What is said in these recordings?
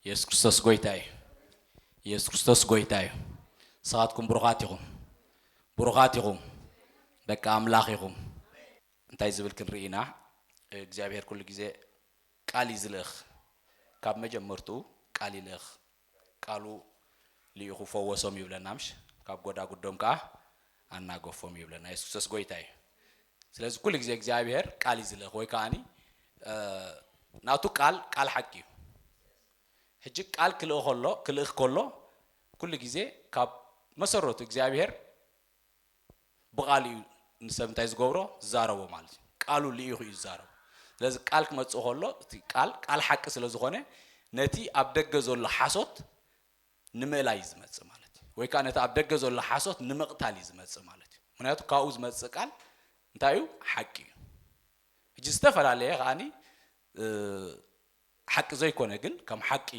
ኢየሱስ ክርስቶስ ጎይታ እዩ ኢየሱስ ክርስቶስ ጎይታ እዩ ንስኻትኩም ብሩኻት ኢኹም ብሩኻት ኢኹም ደቂ ኣምላኽ ኢኹም እንታይ ዝብል ክንርኢ ኢና እግዚኣብሔር ኩሉ ግዜ ቃል እዩ ዝልእኽ ካብ መጀመርትኡ ቃል ይልእኽ ቃሉ ልኢኹ ፈወሶም ይብለና ምሽ ካብ ጎዳጉዶም ከኣ ኣናገፎም ይብለና የሱሰስ ጎይታ እዩ ስለዚ ኩሉ ግዜ እግዚኣብሄር ቃል እዩ ዝልእኽ ወይ ከኣኒ ናቱ ቃል ቃል ሓቂ እዩ ሕጂ ቃል ክልእ ከሎ ክልእኽ ከሎ ኩሉ ግዜ ካብ መሰረቱ እግዚኣብሄር ብቃሉ እዩ ንሰብ እንታይ ዝገብሮ ዝዛረቦ ማለት እዩ ቃሉ ልኢኹ እዩ ዝዛረቦ ስለዚ ቃል ክመጽእ ከሎ እቲ ቃል ቃል ሓቂ ስለ ዝኾነ ነቲ ኣብ ደገ ዘሎ ሓሶት ንምእላይ እዩ ዝመጽእ ማለት እዩ ወይ ከዓ ነቲ ኣብ ደገ ዘሎ ሓሶት ንምቕታል እዩ ዝመጽእ ማለት እዩ ምክንያቱ ካብኡ ዝመጽእ ቃል እንታይ እዩ ሓቂ እዩ ሕጂ ዝተፈላለየ ከዓኒ ሓቂ ዘይኮነ ግን ከም ሓቂ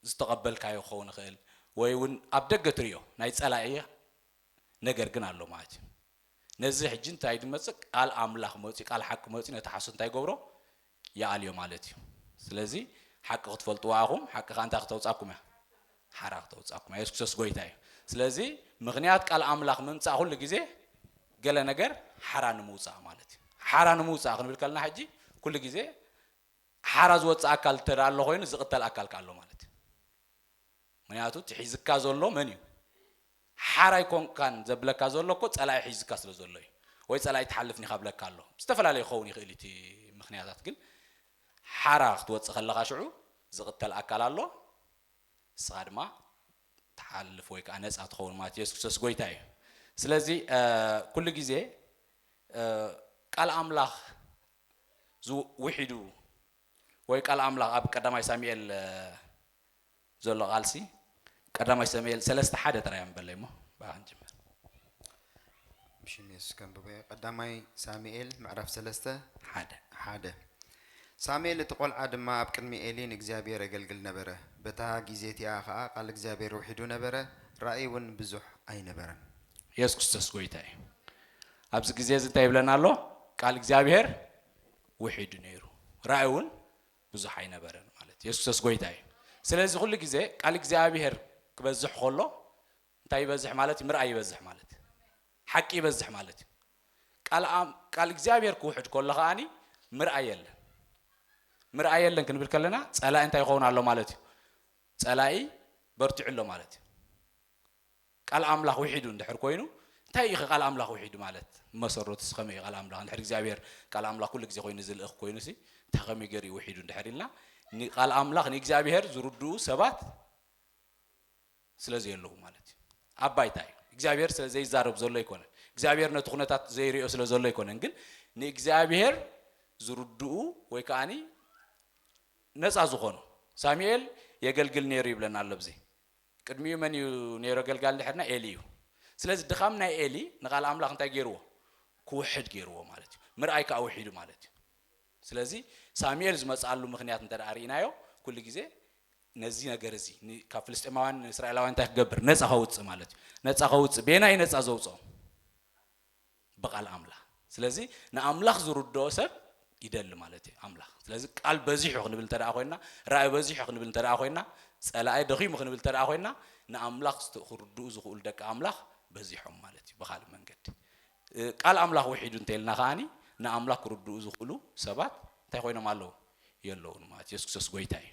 ዝተቐበልካዮ ክኸውን ይኽእል ወይ እውን ኣብ ደገ ትሪኦ ናይ ፀላኢ ነገር ግን ኣሎ ማለት እዩ። ነዚ ሕጂ እንታይ ድመፅእ ቃል ኣምላኽ መፅዩ ቃል ሓቂ መፅዩ ነቲ ሓሶት እንታይ ይገብሮ ይኣልዮ ማለት እዩ። ስለዚ ሓቂ ክትፈልጥዋ ኢኹም ሓቂ ከዓ እንታይ ክተውፃኩም እያ ሓራ ክተውፃኩም እያ። የሱስ ክርስቶስ ጎይታ እዩ። ስለዚ ምኽንያት ቃል ኣምላኽ ምምፃእ ኩሉ ግዜ ገለ ነገር ሓራ ንምውፃእ ማለት እዩ። ሓራ ንምውፃእ ክንብል ከለና ሕጂ ኩሉ ግዜ ሓራ ዝወጽእ ኣካል እንተ ደኣ ኣሎ ኮይኑ ዝቕተል ኣካል ከኣ ኣሎ ማለት እዩ። ምክንያቱ እቲ ሒዝካ ዘሎ መን እዩ ሓራ ኣይኮንካን ዘብለካ ዘሎ እኮ ጸላኢ ሒዝካ ስለ ዘሎ እዩ ወይ ጸላኢ ትሓልፍ ኒኻ ብለካ ኣሎ ዝተፈላለየ ክኸውን ይኽእል እዩ እቲ ምክንያታት ግን ሓራ ክትወጽእ ከለኻ ሽዑ ዝቕተል ኣካል ኣሎ ንስኻ ድማ ትሓልፍ ወይ ከዓ ነፃ ትኸውን ማለት ኢየሱስ ክርስቶስ ጎይታ እዩ ስለዚ ኩሉ ግዜ ቃል ኣምላኽ ዝ ውሒዱ ወይ ቃል ኣምላኽ ኣብ ቀዳማይ ሳሚኤል ዘሎ ቃልሲ ቀዳማይ ሰሙኤል ሰለስተ ሓደ ጥራይ ኣንበለይ እሞ ብኣ ክንጅምር ሽሜስ ከንብበዮ ቀዳማይ ሳሙኤል ምዕራፍ ሰለስተ ሓደ ሓደ ሳሙኤል እቲ ቆልዓ ድማ ኣብ ቅድሚ ኤሊ ንእግዚኣብሔር የገልግል ነበረ በታ ጊዜ እቲኣ ኸዓ ቃል እግዚኣብሔር ውሒዱ ነበረ ራእይ እውን ብዙሕ ኣይነበረን። ኢየሱስ ክርስቶስ ጎይታ እዩ። ኣብዚ ግዜ እዚ እንታይ ይብለና ኣሎ? ቃል እግዚኣብሄር ውሒዱ ነይሩ፣ ራእይ እውን ብዙሕ ኣይነበረን ማለት እዩ። የሱስ ክርስቶስ ጐይታ እዩ። ስለዚ ኩሉ ግዜ ቃል እግዚኣብሄር ክበዝሕ ከሎ እንታይ ይበዝሕ ማለት እዩ? ምርኣይ ይበዝሕ ማለት እዩ። ሓቂ ይበዝሕ ማለት እዩ። ቃል ኣም- ቃል እግዚኣብሄር ክውሕድ ከሎ ከኣኒ ምርኣይ የለን። ምርኣይ የለን ክንብል ከለና ጸላኢ እንታይ ይኸውን ኣሎ ማለት እዩ? ጸላኢ በርቲዑ ኣሎ ማለት እዩ። ቃል ኣምላኽ ዊሒዱ እንድሕር ኮይኑ እንታይ ኢዩኸ ቃል ኣምላኽ ዊሒዱ ማለት ብመሰረቱሲ ከመይ ኢዩ ቃል ኣምላኽ እንድሕር እግዚኣብሄር ቃል ኣምላኽ ኩሉ ግዜ ኮይኑ ዝልእኽ ኮይኑሲ እንታይ ከመይ ገይሩ ኢዩ ዊሒዱ እንድሕር ኢልና ንቃል ኣምላኽ ንእግዚኣብሄር ዝርድኡ ሰባት ስለ ዘየለዉ ማለት ኢዩ ኣብ ባይታ ኢዩ እግዚኣብሄር ስለ ዘይዛረብ ዘሎ ኣይኮነን እግዚኣብሄር ነቲ ኩነታት ዘይርእዮ ስለ ዘሎ ኣይኮነን ግን ንእግዚኣብሄር ዝርድኡ ወይ ከዓኒ ነፃ ዝኾኑ ሳሙኤል የገልግል ነይሩ ይብለና ኣሎ ብዚ ቅድሚኡ መን እዩ ነይሩ ኣገልጋሊ ድሕርና ኤሊ እዩ ስለዚ ድኻም ናይ ኤሊ ንቃል ኣምላኽ እንታይ ገይርዎ ክውሕድ ገይርዎ ማለት እዩ ምርኣይ ከዓ ውሒዱ ማለት እዩ ስለዚ ሳሙኤል ዝመፅኣሉ ምክንያት እንተ ርኢናዮ ኩሉ ግዜ ነዚ ነገር እዚ ካብ ፍልስጤማውያን ንእስራኤላውያን እንታይ ክገብር ነፃ ከውፅእ ማለት እዩ ነፃ ከውፅእ ቤና እዩ ነፃ ዘውፅኦም ብቃል ኣምላኽ ስለዚ ንኣምላኽ ዝርድኦ ሰብ ይደሊ ማለት እዩ ኣምላኽ ስለዚ ቃል በዚሑ ክንብል እንተ ኮይንና ራእይ በዚሑ ክንብል እንተ ኮይንና ጸላኢ ደኺሙ ክንብል እንተ ኮይንና ንኣምላኽ ክርድኡ ዝኽእሉ ደቂ ኣምላኽ በዚሖም ማለት እዩ ብካልእ መንገዲ ቃል ኣምላኽ ውሒዱ እንተልና ከዓኒ ንኣምላኽ ክርድኡ ዝኽእሉ ሰባት እንታይ ኮይኖም ኣለዉ የለውን ማለት የሱስ ክርስቶስ ጎይታ እዩ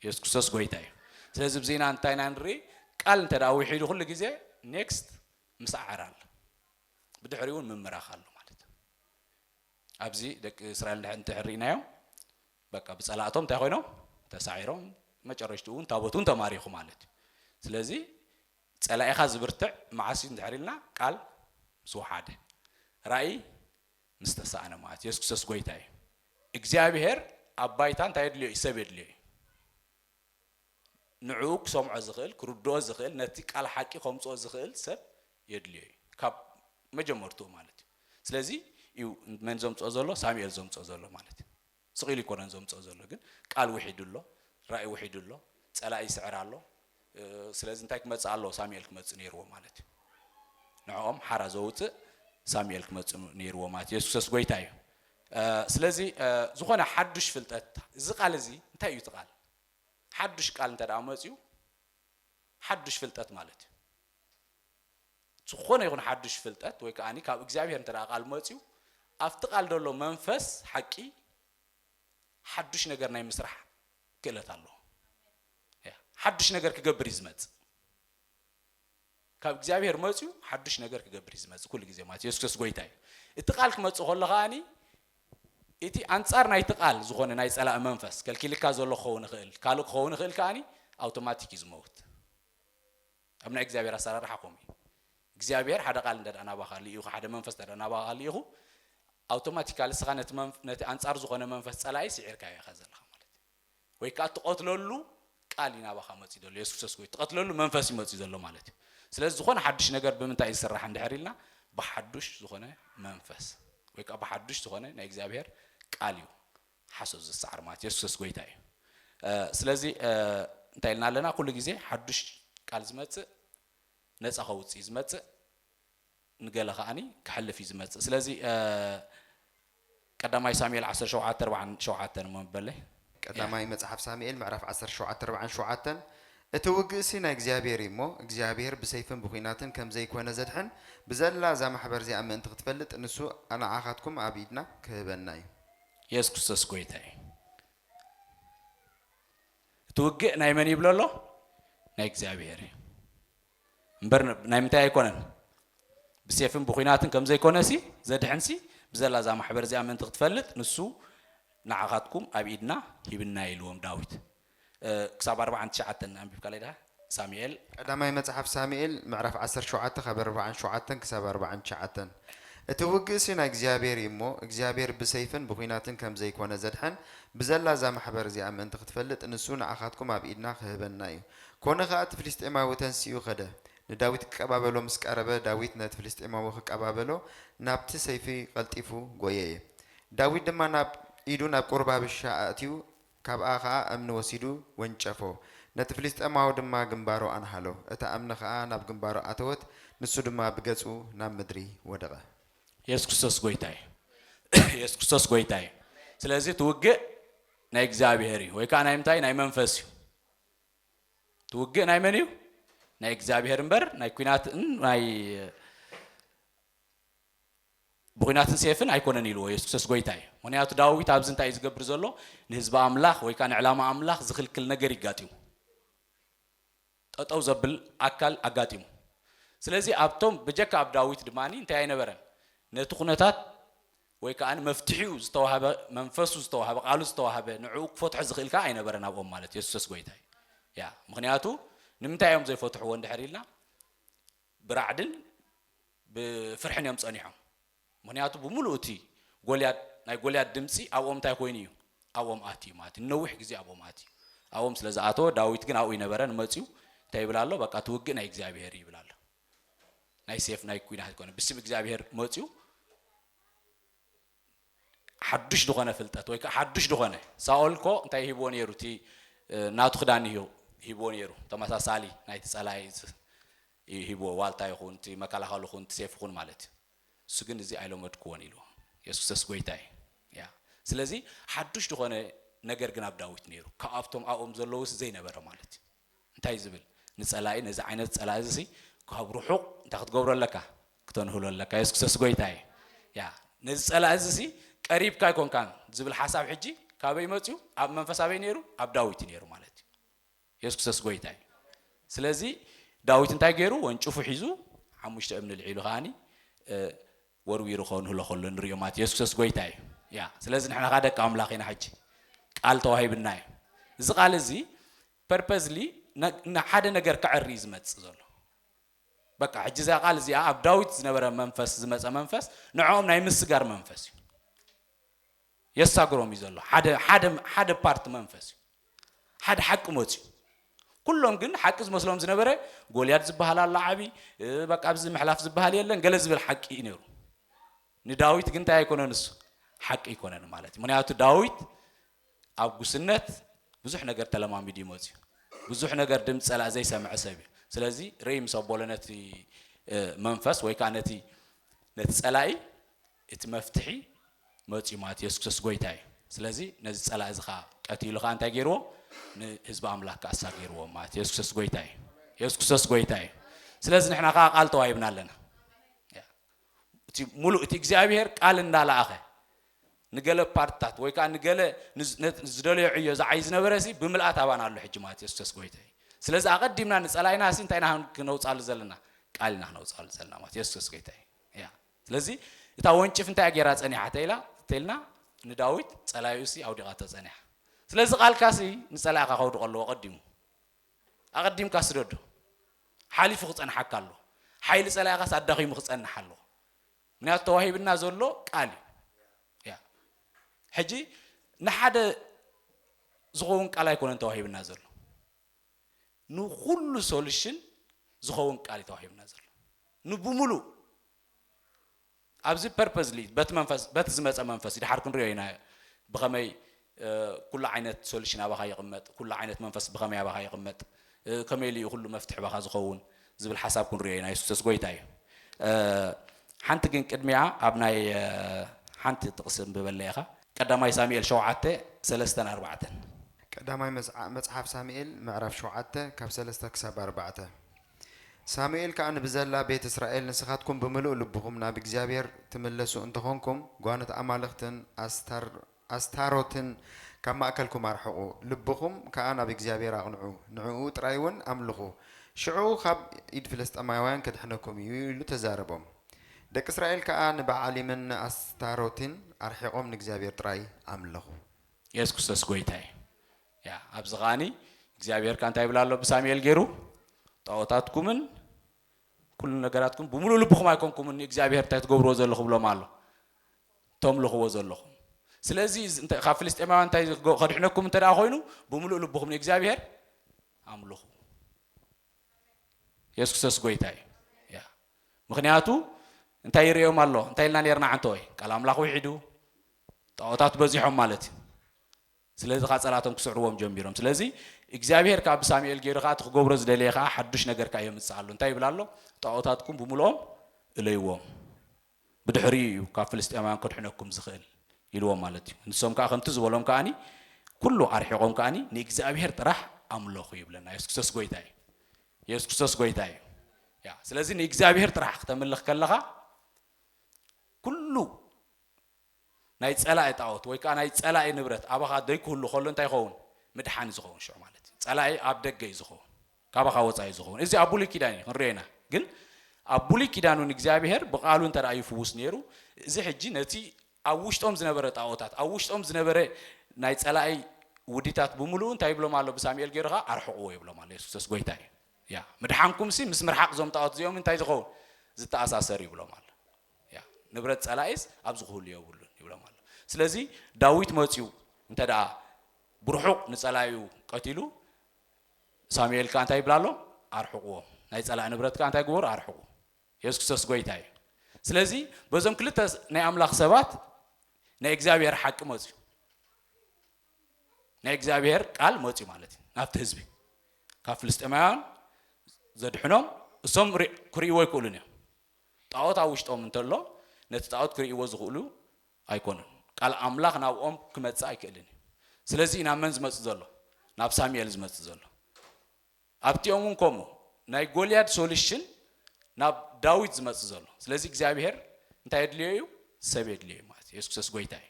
የሱስ ክርስቶስ ጎይታ እዩ ስለዚ ብዜና እንታይ ኢና ንርኢ ቃል እንተ ውሒዱ ኩሉ ግዜ ኔክስት ምስዓር ኣሎ ብድሕሪኡ እውን ምምራኽ ኣሎ ማለት እዩ ኣብዚ ደቂ እስራኤል እንድሕር ርኢናዮም በቃ ብፀላእቶም እንታይ ኮይኖም ተሳዒሮም መጨረሽትኡ እውን ታቦት እውን ተማሪኹ ማለት እዩ ስለዚ ፀላኢኻ ዝብርትዕ መዓስ እዩ እንድሕር ኢልና ቃል ምስ ወሓደ ራእይ ምስ ተሳእነ ማለት የሱስ ክርስቶስ ጎይታ እዩ እግዚኣብሄር ኣብ ባይታ እንታይ የድልዮ እዩ ሰብ የድልዮ እዩ ንዕኡ ክሰምዖ ዝኽእል፣ ክርድኦ ዝኽእል፣ ነቲ ቃል ሓቂ ከምጽኦ ዝኽእል ሰብ የድልዮ እዩ። ካብ መጀመርትኡ ማለት እዩ። ስለዚ እዩ መን ዘምጽኦ ዘሎ? ሳሙኤል ዘምጽኦ ዘሎ ማለት እዩ። ስቕ ኢሉ ኣይኮነን ዘምጽኦ ዘሎ ግን ቃል ውሒዱ ኣሎ፣ ራኢ ውሒዱ ኣሎ፣ ጸላኢ ይስዕር ኣሎ፣ ስለዚ እንታይ ክመጽእ ኣለዎ? ሳሙኤል ክመጽእ ነይርዎ ማለት እዩ። ንዕኦም ሓራ ዘውጽእ ሳሙኤል ክመጽእ ነይርዎ ማለት እዩ። የሱሰስ ጎይታ እዩ። ስለዚ ዝኾነ ሓዱሽ ፍልጠት እዚ ቃል እዚ እንታይ እዩ እቲ ቃል ሓዱሽ ቃል እንተ ደኣ መፅኡ ሓዱሽ ፍልጠት ማለት እዩ ዝኾነ ይኹን ሓዱሽ ፍልጠት ወይ ከዓኒ ካብ እግዚኣብሔር እንተ ደኣ ቃል መፅኡ ኣብቲ ቃል ዘሎ መንፈስ ሓቂ ሓዱሽ ነገር ናይ ምስራሕ ክእለት ኣለዎ ሓዱሽ ነገር ክገብር እዩ ዝመፅእ ካብ እግዚኣብሔር መጽዩ ሓዱሽ ነገር ክገብር እዩ ዝመጽእ ኩሉ ግዜ ማለት የሱስ ክርስቶስ ጎይታ እዩ እቲ ቃል ክመጽእ ከሎ ከኣኒ እቲ ኣንጻር ናይቲ ቃል ዝኾነ ናይ ጸላእ መንፈስ ከልኪልካ ዘሎ ክኸውን ይኽእል ካልእ ክኸውን ይኽእል ከኣኒ ኣውቶማቲክ እዩ ዝመውት ኣብ ናይ እግዚኣብሔር ኣሰራርሓ ከምኡ እዩ እግዚኣብሔር ሓደ ቃል እንተ ናባኻ ልኢኹ ሓደ መንፈስ እንተ ናባኻ ልኢኹ ኣውቶማቲካሊ ስኻ ነቲ ኣንጻር ዝኾነ መንፈስ ጸላኢ ስዒርካዮ ኢኻ ዘለኻ ወይ ከኣ ትቐትለሉ ቃል እዩ ናባኻ መጺኡ ዘሎ የሱስ ክርስቶስ ወይ ትቐትለሉ መንፈስ እዩ መጺኡ ዘሎ ማለት እዩ ስለዚ ዝኾነ ሓዱሽ ነገር ብምንታይ እዩ ዝስራሕ እንድሕር ኢልና ብሓዱሽ ዝኾነ መንፈስ ወይ ከኣ ብሓዱሽ ዝኾነ ናይ እግዚኣብሔር ቃል እዩ ሓሶት ዝሰዓር ማለት የሱስ ክርስቶስ ጎይታ እዩ ስለዚ እንታይ ኢልና ኣለና ኩሉ ግዜ ሓዱሽ ቃል ዝመጽእ ነፃ ከውፅእ ዝመፅእ ንገለ ከኣ ከሕልፍ እዩ ዝመጽእ ስለዚ ቀዳማይ ሳሙኤል ዓሰርተ ሸውዓተ ኣርብዓን ሸውዓተን እሞ በለ። ቀዳማይ መጽሓፍ ሳሙኤል ምዕራፍ ዓሰርተ ሸውዓተ ኣርብዓን ሸውዓተን እቲ ውግእሲ ናይ እግዚኣብሄር እዩ እሞ፣ እግዚኣብሄር ብሰይፍን ብዂናትን ከም ዘይኰነ ዘድሕን፣ ብዘላ እዛ ማሕበር እዚኣ ምእንቲ ኽትፈልጥ፣ ንሱ ንዓኻትኩም ኣብ ኢድና ኽህበና እዩ። የሱስ ክርስቶስ ጐይታ እዩ። እቲ ውግእ ናይ መን እዩ ይብሎ ኣሎ? ናይ እግዚኣብሄር እዩ። እምበር ናይ ምንታይ ኣይኮነን ብሴፍን ብኩናትን ከምዘይኮነሲ ዘድሕንሲ ብዘላ እዛ ማሕበር እዚኣ ምእንቲ ክትፈልጥ ንሱ ንዓኻትኩም ኣብ ኢድና ሂብና ኢልዎም ዳዊት ክሳብ ኣርብዓን ትሽዓተን ኣንቢብካለይ ድኻ ሳሙኤል ቀዳማይ መጽሓፍ ሳሙኤል ምዕራፍ ዓሰርተ ሸውዓተ ካብ ኣርብዓን ሸውዓተን ክሳብ ኣርብዓን ትሽዓተን እቲ ውግእሲ ናይ እግዚኣብሔር እዩ እሞ እግዚኣብሔር ብሰይፍን ብኩናትን ከም ዘይኮነ ዘድሕን ብዘላ እዛ ማሕበር እዚኣ ምእንቲ ክትፈልጥ ንሱ ንዓኻትኩም ኣብ ኢድና ክህበና እዩ ኰነ ኸኣ እቲ ፍልስጥኤማዊ ተንሲኡ ኸደ፣ ንዳዊት ኪቀባበሎ ምስ ቀረበ፣ ዳዊት ነቲ ፍልስጥኤማዊ ኺቀባበሎ ናብቲ ሰይፊ ቐልጢፉ ጐየየ። ዳዊት ድማ ናብ ኢዱ ናብ ቍሩብ ኣብሻ ኣእትዩ፣ ካብኣ ኸኣ እምኒ ወሲዱ ወንጨፎ፣ ነቲ ፍልስጥኤማዊ ድማ ግምባሩ ኣንሃሎ፣ እታ እምኒ ኸኣ ናብ ግምባሩ ኣተወት፣ ንሱ ድማ ብገጹ ናብ ምድሪ ወደቐ። የሱስ ክርስቶስ ጎይታ እዩ የሱስ ክርስቶስ ጎይታ እዩ ስለዚ እቲ ውግእ ናይ እግዚኣብሄር እዩ ወይ ከዓ ናይ ምንታይ ናይ መንፈስ እዩ እቲ ውግእ ናይ መን እዩ? ናይ እግዚኣብሔር እምበር ናይ ኩናትን ናይ ብኩናትን ሴፍን ኣይኮነን ኢልዎ የሱስ ክርስቶስ ጎይታ እዩ ምክንያቱ ዳዊት ኣብዚ እንታይ እዩ ዝገብር ዘሎ ንህዝቢ ኣምላኽ ወይ ከዓ ንዕላማ ኣምላኽ ዝኽልክል ነገር ይጋጢሙ ጠጠው ዘብል ኣካል ኣጋጢሙ ስለዚ ኣብቶም በጀካ ኣብ ዳዊት ድማ እንታይ ኣይነበረን ነቲ ኩነታት ወይ ከኣ መፍትሒኡ ዝተዋህበ መንፈሱ ዝተዋህበ ቃሉ ዝተዋህበ ንዕኡ ክፈትሖ ዝኽእል ከኣ ኣይነበረን ኣብኦም ማለት የሱሰስ ጎይታ እዩ ያ ምክንያቱ ንምንታይ እዮም ዘይፈትሕዎ እንድሕር ኢልና ብራዕድን ብፍርሕን እዮም ጸኒሖም ምክንያቱ ብምሉእ እቲ ጎልያድ ናይ ጎልያድ ድምፂ ኣብኦም እንታይ ኮይኑ እዩ ኣብኦም ኣትዩ ማለት እዩ ነዊሕ ግዜ ኣብኦም ኣትዩ ኣብኦም ስለ ዝኣተወ ዳዊት ግን ኣብኡ ይነበረን መፅዩ እንታይ ይብል ኣሎ በቃ ትውግእ ናይ እግዚኣብሄር ይብል ኣሎ ናይ ሴፍ ናይ ኩናት ኣይኮነ ብስም እግዚኣብሔር መፅኡ ሓዱሽ ዝኾነ ፍልጠት ወይ ከዓ ሓዱሽ ዝኾነ ሳኦል እኮ እንታይ ሂብዎ ነይሩ እቲ ናቱ ክዳን እዩ ሂብዎ ነይሩ ተመሳሳሊ ናይቲ ፀላኢ እዩ ሂብዎ ዋልታ ይኹን እቲ መከላኸል ይኹን እቲ ሴፍ ይኹን ማለት እዩ እሱ ግን እዚ ኣይለመድክዎን ኢልዎ የሱሰስ ጎይታ እዩ ያ ስለዚ ሓዱሽ ዝኾነ ነገር ግን ኣብ ዳዊት ነይሩ ካብኣቶም ኣብኦም ዘለውስ ዘይነበረ ማለት እዩ እንታይ ዝብል ንጸላኢ ነዚ ዓይነት ጸላኢ እዚሲ ካብ ርሑቕ እንታይ ክትገብሮ ኣለካ ክተንህሎ ኣለካ የስክሰስ ጎይታይ ያ ነዚ ጸላኢ እዚሲ ቀሪብካ ኣይኮንካን ዝብል ሓሳብ ሕጂ ካበይ መጽዩ ኣብ መንፈስ ኣበይ ነይሩ ኣብ ዳዊት እዩ ነይሩ ማለት እዩ የስክሰስ ጎይታይ ስለዚ ዳዊት እንታይ ገይሩ ወንጭፉ ሒዙ ሓሙሽተ እምኒ ልዒሉ ከዓኒ ወርዊሩ ከንሁ ለኸሉ እንሪኦ ማት የሱስ ክሰስ ጎይታ እዩ ያ ስለዚ ንሕና ከኣ ደቂ ኣምላኽ ኢና ሕጂ ቃል ተዋሂብና እዩ እዚ ቃል እዚ ፐርፐዝሊ ንሓደ ነገር ከዕሪ እዩ ዝመጽእ ዘሎ በቃ ሕጂ እዚኣ ቃል እዚኣ ኣብ ዳዊት ዝነበረ መንፈስ ዝመፀ መንፈስ ንዕኦም ናይ ምስጋር መንፈስ እዩ የሳግሮም እዩ ዘሎ ሓደ ሓደ ሓደ ፓርት መንፈስ እዩ ሓደ ሓቂ መፅዩ ኩሎም ግን ሓቂ ዝመስሎም ዝነበረ ጎልያድ ዝበሃል ኣሎ ዓብዪ በቃ ኣብዚ ምሕላፍ ዝበሃል የለን ገለ ዝብል ሓቂ እዩ ነይሩ ንዳዊት ግን እንታይ ኣይኮነ ንሱ ሓቂ ኣይኮነን ማለት እዩ ምክንያቱ ዳዊት ኣብ ጉስነት ብዙሕ ነገር ተለማሚዱ ይመፅዩ ብዙሕ ነገር ድምፂ ፀላእ ዘይሰምዐ ሰብ እዩ ስለዚ ርእይ ምስ ኣቦሎ ነቲ መንፈስ ወይ ከዓ ነቲ ነቲ ፀላኢ እቲ መፍትሒ መጽዩ ማለት የሱስ ክርስቶስ ጎይታ እዩ ስለዚ ነዚ ጸላኢ እዚ ከኣ ቀቲሉ ከኣ እንታይ ገይርዎ ንህዝቢ ኣምላክ ከኣ ኣሳጊርዎም ማለት የሱስ ክርስቶስ ጎይታ እዩ የሱስ ክርስቶስ ጎይታ እዩ ስለዚ ንሕና ከኣ ቃል ተዋሂብና ኣለና እቲ ሙሉእ እቲ እግዚኣብሄር ቃል እንዳለኣኸ ንገለ ፓርትታት ወይ ከዓ ንገለ ዝደለዮ ዕዮ ዝዓይ ዝነበረ ሲ ብምልኣት ኣባና ኣሎ ሕጂ ማለት የሱስ ክርስቶስ ጎይታ እዩ ስለዚ ኣቐዲምና ንጸላኢና ሲ እንታይ ኢና ክነውፃሉ ዘለና ቃል ኢና ክነውፃሉ ዘለና ማለት የሱስ ክርስቶስ ጎይታ እዩ ስለዚ እታ ወንጭፍ እንታይ እያ ገይራ ጸኒሓ ተይላ ተይልና ንዳዊት ጸላኢኡሲ ኣውዲቓቶ ጸኒሓ ስለዚ ቃልካሲ ንጸላኢኻ ከውድቆ ኣለዎ ቀዲሙ ኣቐዲምካ ስደዶ ሓሊፉ ክጸንሓካ ኣሎ ሓይሊ ጸላኢኻስ ኣዳኺሙ ክጸንሕ ኣለዎ ምክንያቱ ተዋሂብና ዘሎ ቃል እዩ ሕጂ ንሓደ ዝኸውን ቃል ኣይኮነን ተዋሂብና ዘሎ ንኹሉ ሶሉሽን ዝኸውን ቃል እዩ ተዋሂቡና ዘሎ ንብሙሉእ ኣብዚ ፐርፐዝሊ በቲ መንፈስ በቲ ዝመፀ መንፈስ እዩ ድሓር ክንሪኦ ኢና ብኸመይ ኩሉ ዓይነት ሶሉሽን ኣባኻ ይቕመጥ ኩሉ ዓይነት መንፈስ ብኸመይ ኣባኻ ይቕመጥ ከመይ ኢሉ እዩ ኩሉ መፍትሒ ባኻ ዝኸውን ዝብል ሓሳብ ክንሪኦ ኢና የሱሰስ ጎይታ እዩ ሓንቲ ግን ቅድሚኣ ኣብ ናይ ሓንቲ ጥቅሲ እንብበለይ ኢካ ቀዳማይ ሳሚኤል ሸውዓተ ሰለስተን ኣርባዕተን። ቀዳማይ መጽሓፍ ሳሚኤል ምዕራፍ ሸውዓተ ካብ ሰለስተ ክሳብ ኣርባዕተ ሳሙኤል ከኣ ንብዘላ ቤት እስራኤል ንስኻትኩም ብምሉእ ልብኹም ናብ እግዚኣብሄር ትምለሱ እንተኾንኩም ጓኖት ኣማልኽትን ኣስታር ኣስታሮትን ካብ ማእከልኩም ኣርሕቑ፣ ልብኹም ከኣ ናብ እግዚኣብሄር ኣቕንዑ፣ ንዕኡ ጥራይውን ኣምልኹ፣ ሽዑ ኻብ ኢድ ፍልስጥኤማውያን ኬድሕነኩም እዩ፣ ኢሉ ተዛረቦም። ደቂ እስራኤል ከኣ ንበኣሊምን ንኣስታሮትን ኣርሒቖም ንእግዚኣብሄር ጥራይ ኣምለኹ። የሱስ ክርስቶስ ጎይታ እዩ። ያ ኣብዚ ከኣ እግዚኣብሄር ከኣ እንታይ ይብል ኣሎ ብሳሙኤል ጌሩ ጣኦታትኩምን ኩሉ ነገራትኩም ብምሉእ ልብኹም ኣይኮንኩምን ንእግዚኣብሄር እንታይ ትገብርዎ ዘለኹም ብሎም ኣሎ ተምልኽዎ ዘለኹም ስለዚ ካብ ፍልስጤማውያን እንታይ ከድሕነኩም እንተ ኮይኑ ብምሉእ ልብኹም ንእግዚኣብሄር ኣምልኹ የሱስ ክርስቶስ ጎይታ እዩ ምክንያቱ እንታይ ይርእዮም ኣሎ እንታይ ኢልና ነርና ዓንተ ወይ ቃል ኣምላኽ ውሒዱ ጣዖታት በዚሖም ማለት እዩ ስለዚ ከኣ ጸላቶም ክስዕርዎም ጀሚሮም። ስለዚ እግዚኣብሄር ከኣ ብሳሙኤል ገይሩ ከኣ እቲ ክገብሮ ዝደለየ ከኣ ሓዱሽ ነገር ከኣ የምጽእ ኣሎ። እንታይ ይብል ኣሎ? ጣኦታትኩም ብምሉኦም እለይዎም። ብድሕሪኡ እዩ ካብ ፍልስጥኤማውያን ከድሕነኩም ዝኽእል ኢልዎም ማለት እዩ። ንሶም ከኣ ከምቲ ዝበሎም ከኣኒ ኩሉ ኣርሒቖም ከኣኒ ንእግዚኣብሄር ጥራሕ ኣምለኹ ይብለና። የሱስ ክርስቶስ ጎይታ እዩ። የሱስ ክርስቶስ ጎይታ እዩ። ያ ስለዚ ንእግዚኣብሄር ጥራሕ ክተምልኽ ከለኻ ኩሉ ናይ ጸላኢ ጣኦት ወይ ከኣ ናይ ጸላኢ ንብረት ኣባኻ ደይክህሉ ከሎ እንታይ ይኸውን ምድሓን እዩ ዝኸውን ሽዑ ማለት እዩ ጸላኢ ኣብ ደገ እዩ ዝኸውን ካባኻ ወጻኢ እዩ ዝኸውን እዚ ኣብ ብሉይ ኪዳን እዩ ክንሪኦ ኢና ግን ኣብ ብሉይ ኪዳን እውን እግዚኣብሄር ብቃሉ እንተ ይፍውስ ነይሩ እዚ ሕጂ ነቲ ኣብ ውሽጦም ዝነበረ ጣኦታት ኣብ ውሽጦም ዝነበረ ናይ ጸላኢ ውዲታት ብምሉኡ እንታይ ይብሎም ኣሎ ብሳሙኤል ገይሩ ኸዓ ኣርሕቕዎ ይብሎም ኣሎ የሱስ ክርስቶስ ጎይታ እዩ ያ ምድሓንኩምሲ ምስ ምርሓቕ እዞም ጣኦት እዚኦም እንታይ ዝኸውን ዝተኣሳሰር ይብሎም ኣሎ እያ ንብረት ጸላኢስ ኣብዚ ክህሉ የብሉን ይብሎም ኣሎ ስለዚ ዳዊት መጽዩ እንተ ብርሑቕ ንጸላኢኡ ቀቲሉ ሳሙኤል ከኣ እንታይ ይብላ ኣሎ ኣርሕቕዎም ናይ ጸላኢ ንብረት ከኣ እንታይ ግበሩ ኣርሕቑ የሱስ ክርስቶስ ጎይታ እዩ ስለዚ በዞም ክልተ ናይ ኣምላኽ ሰባት ናይ እግዚኣብሔር ሓቂ መፅዩ ናይ እግዚኣብሔር ቃል መፅዩ ማለት እዩ ናብቲ ህዝቢ ካብ ፍልስጤማውያን ዘድሕኖም እሶም ክርእይዎ ኣይክእሉን እዮም ጣኦት ኣብ ውሽጦም እንተሎ ነቲ ጣኦት ክርእይዎ ዝኽእሉ ኣይኮኑን። ቃል ኣምላኽ ናብኦም ክመጽእ ኣይክእልን እዩ። ስለዚ እዩ ናብ መን ዝመጽእ ዘሎ? ናብ ሳሙኤል ዝመጽእ ዘሎ። ኣብቲኦም እውን ከምኡ ናይ ጎልያድ ሶሉሽን ናብ ዳዊት ዝመጽእ ዘሎ። ስለዚ እግዚኣብሔር እንታይ የድልዮ እዩ? ሰብ የድልዮ እዩ ማለት እዩ። የሱስ ክርስቶስ ጎይታ እዩ።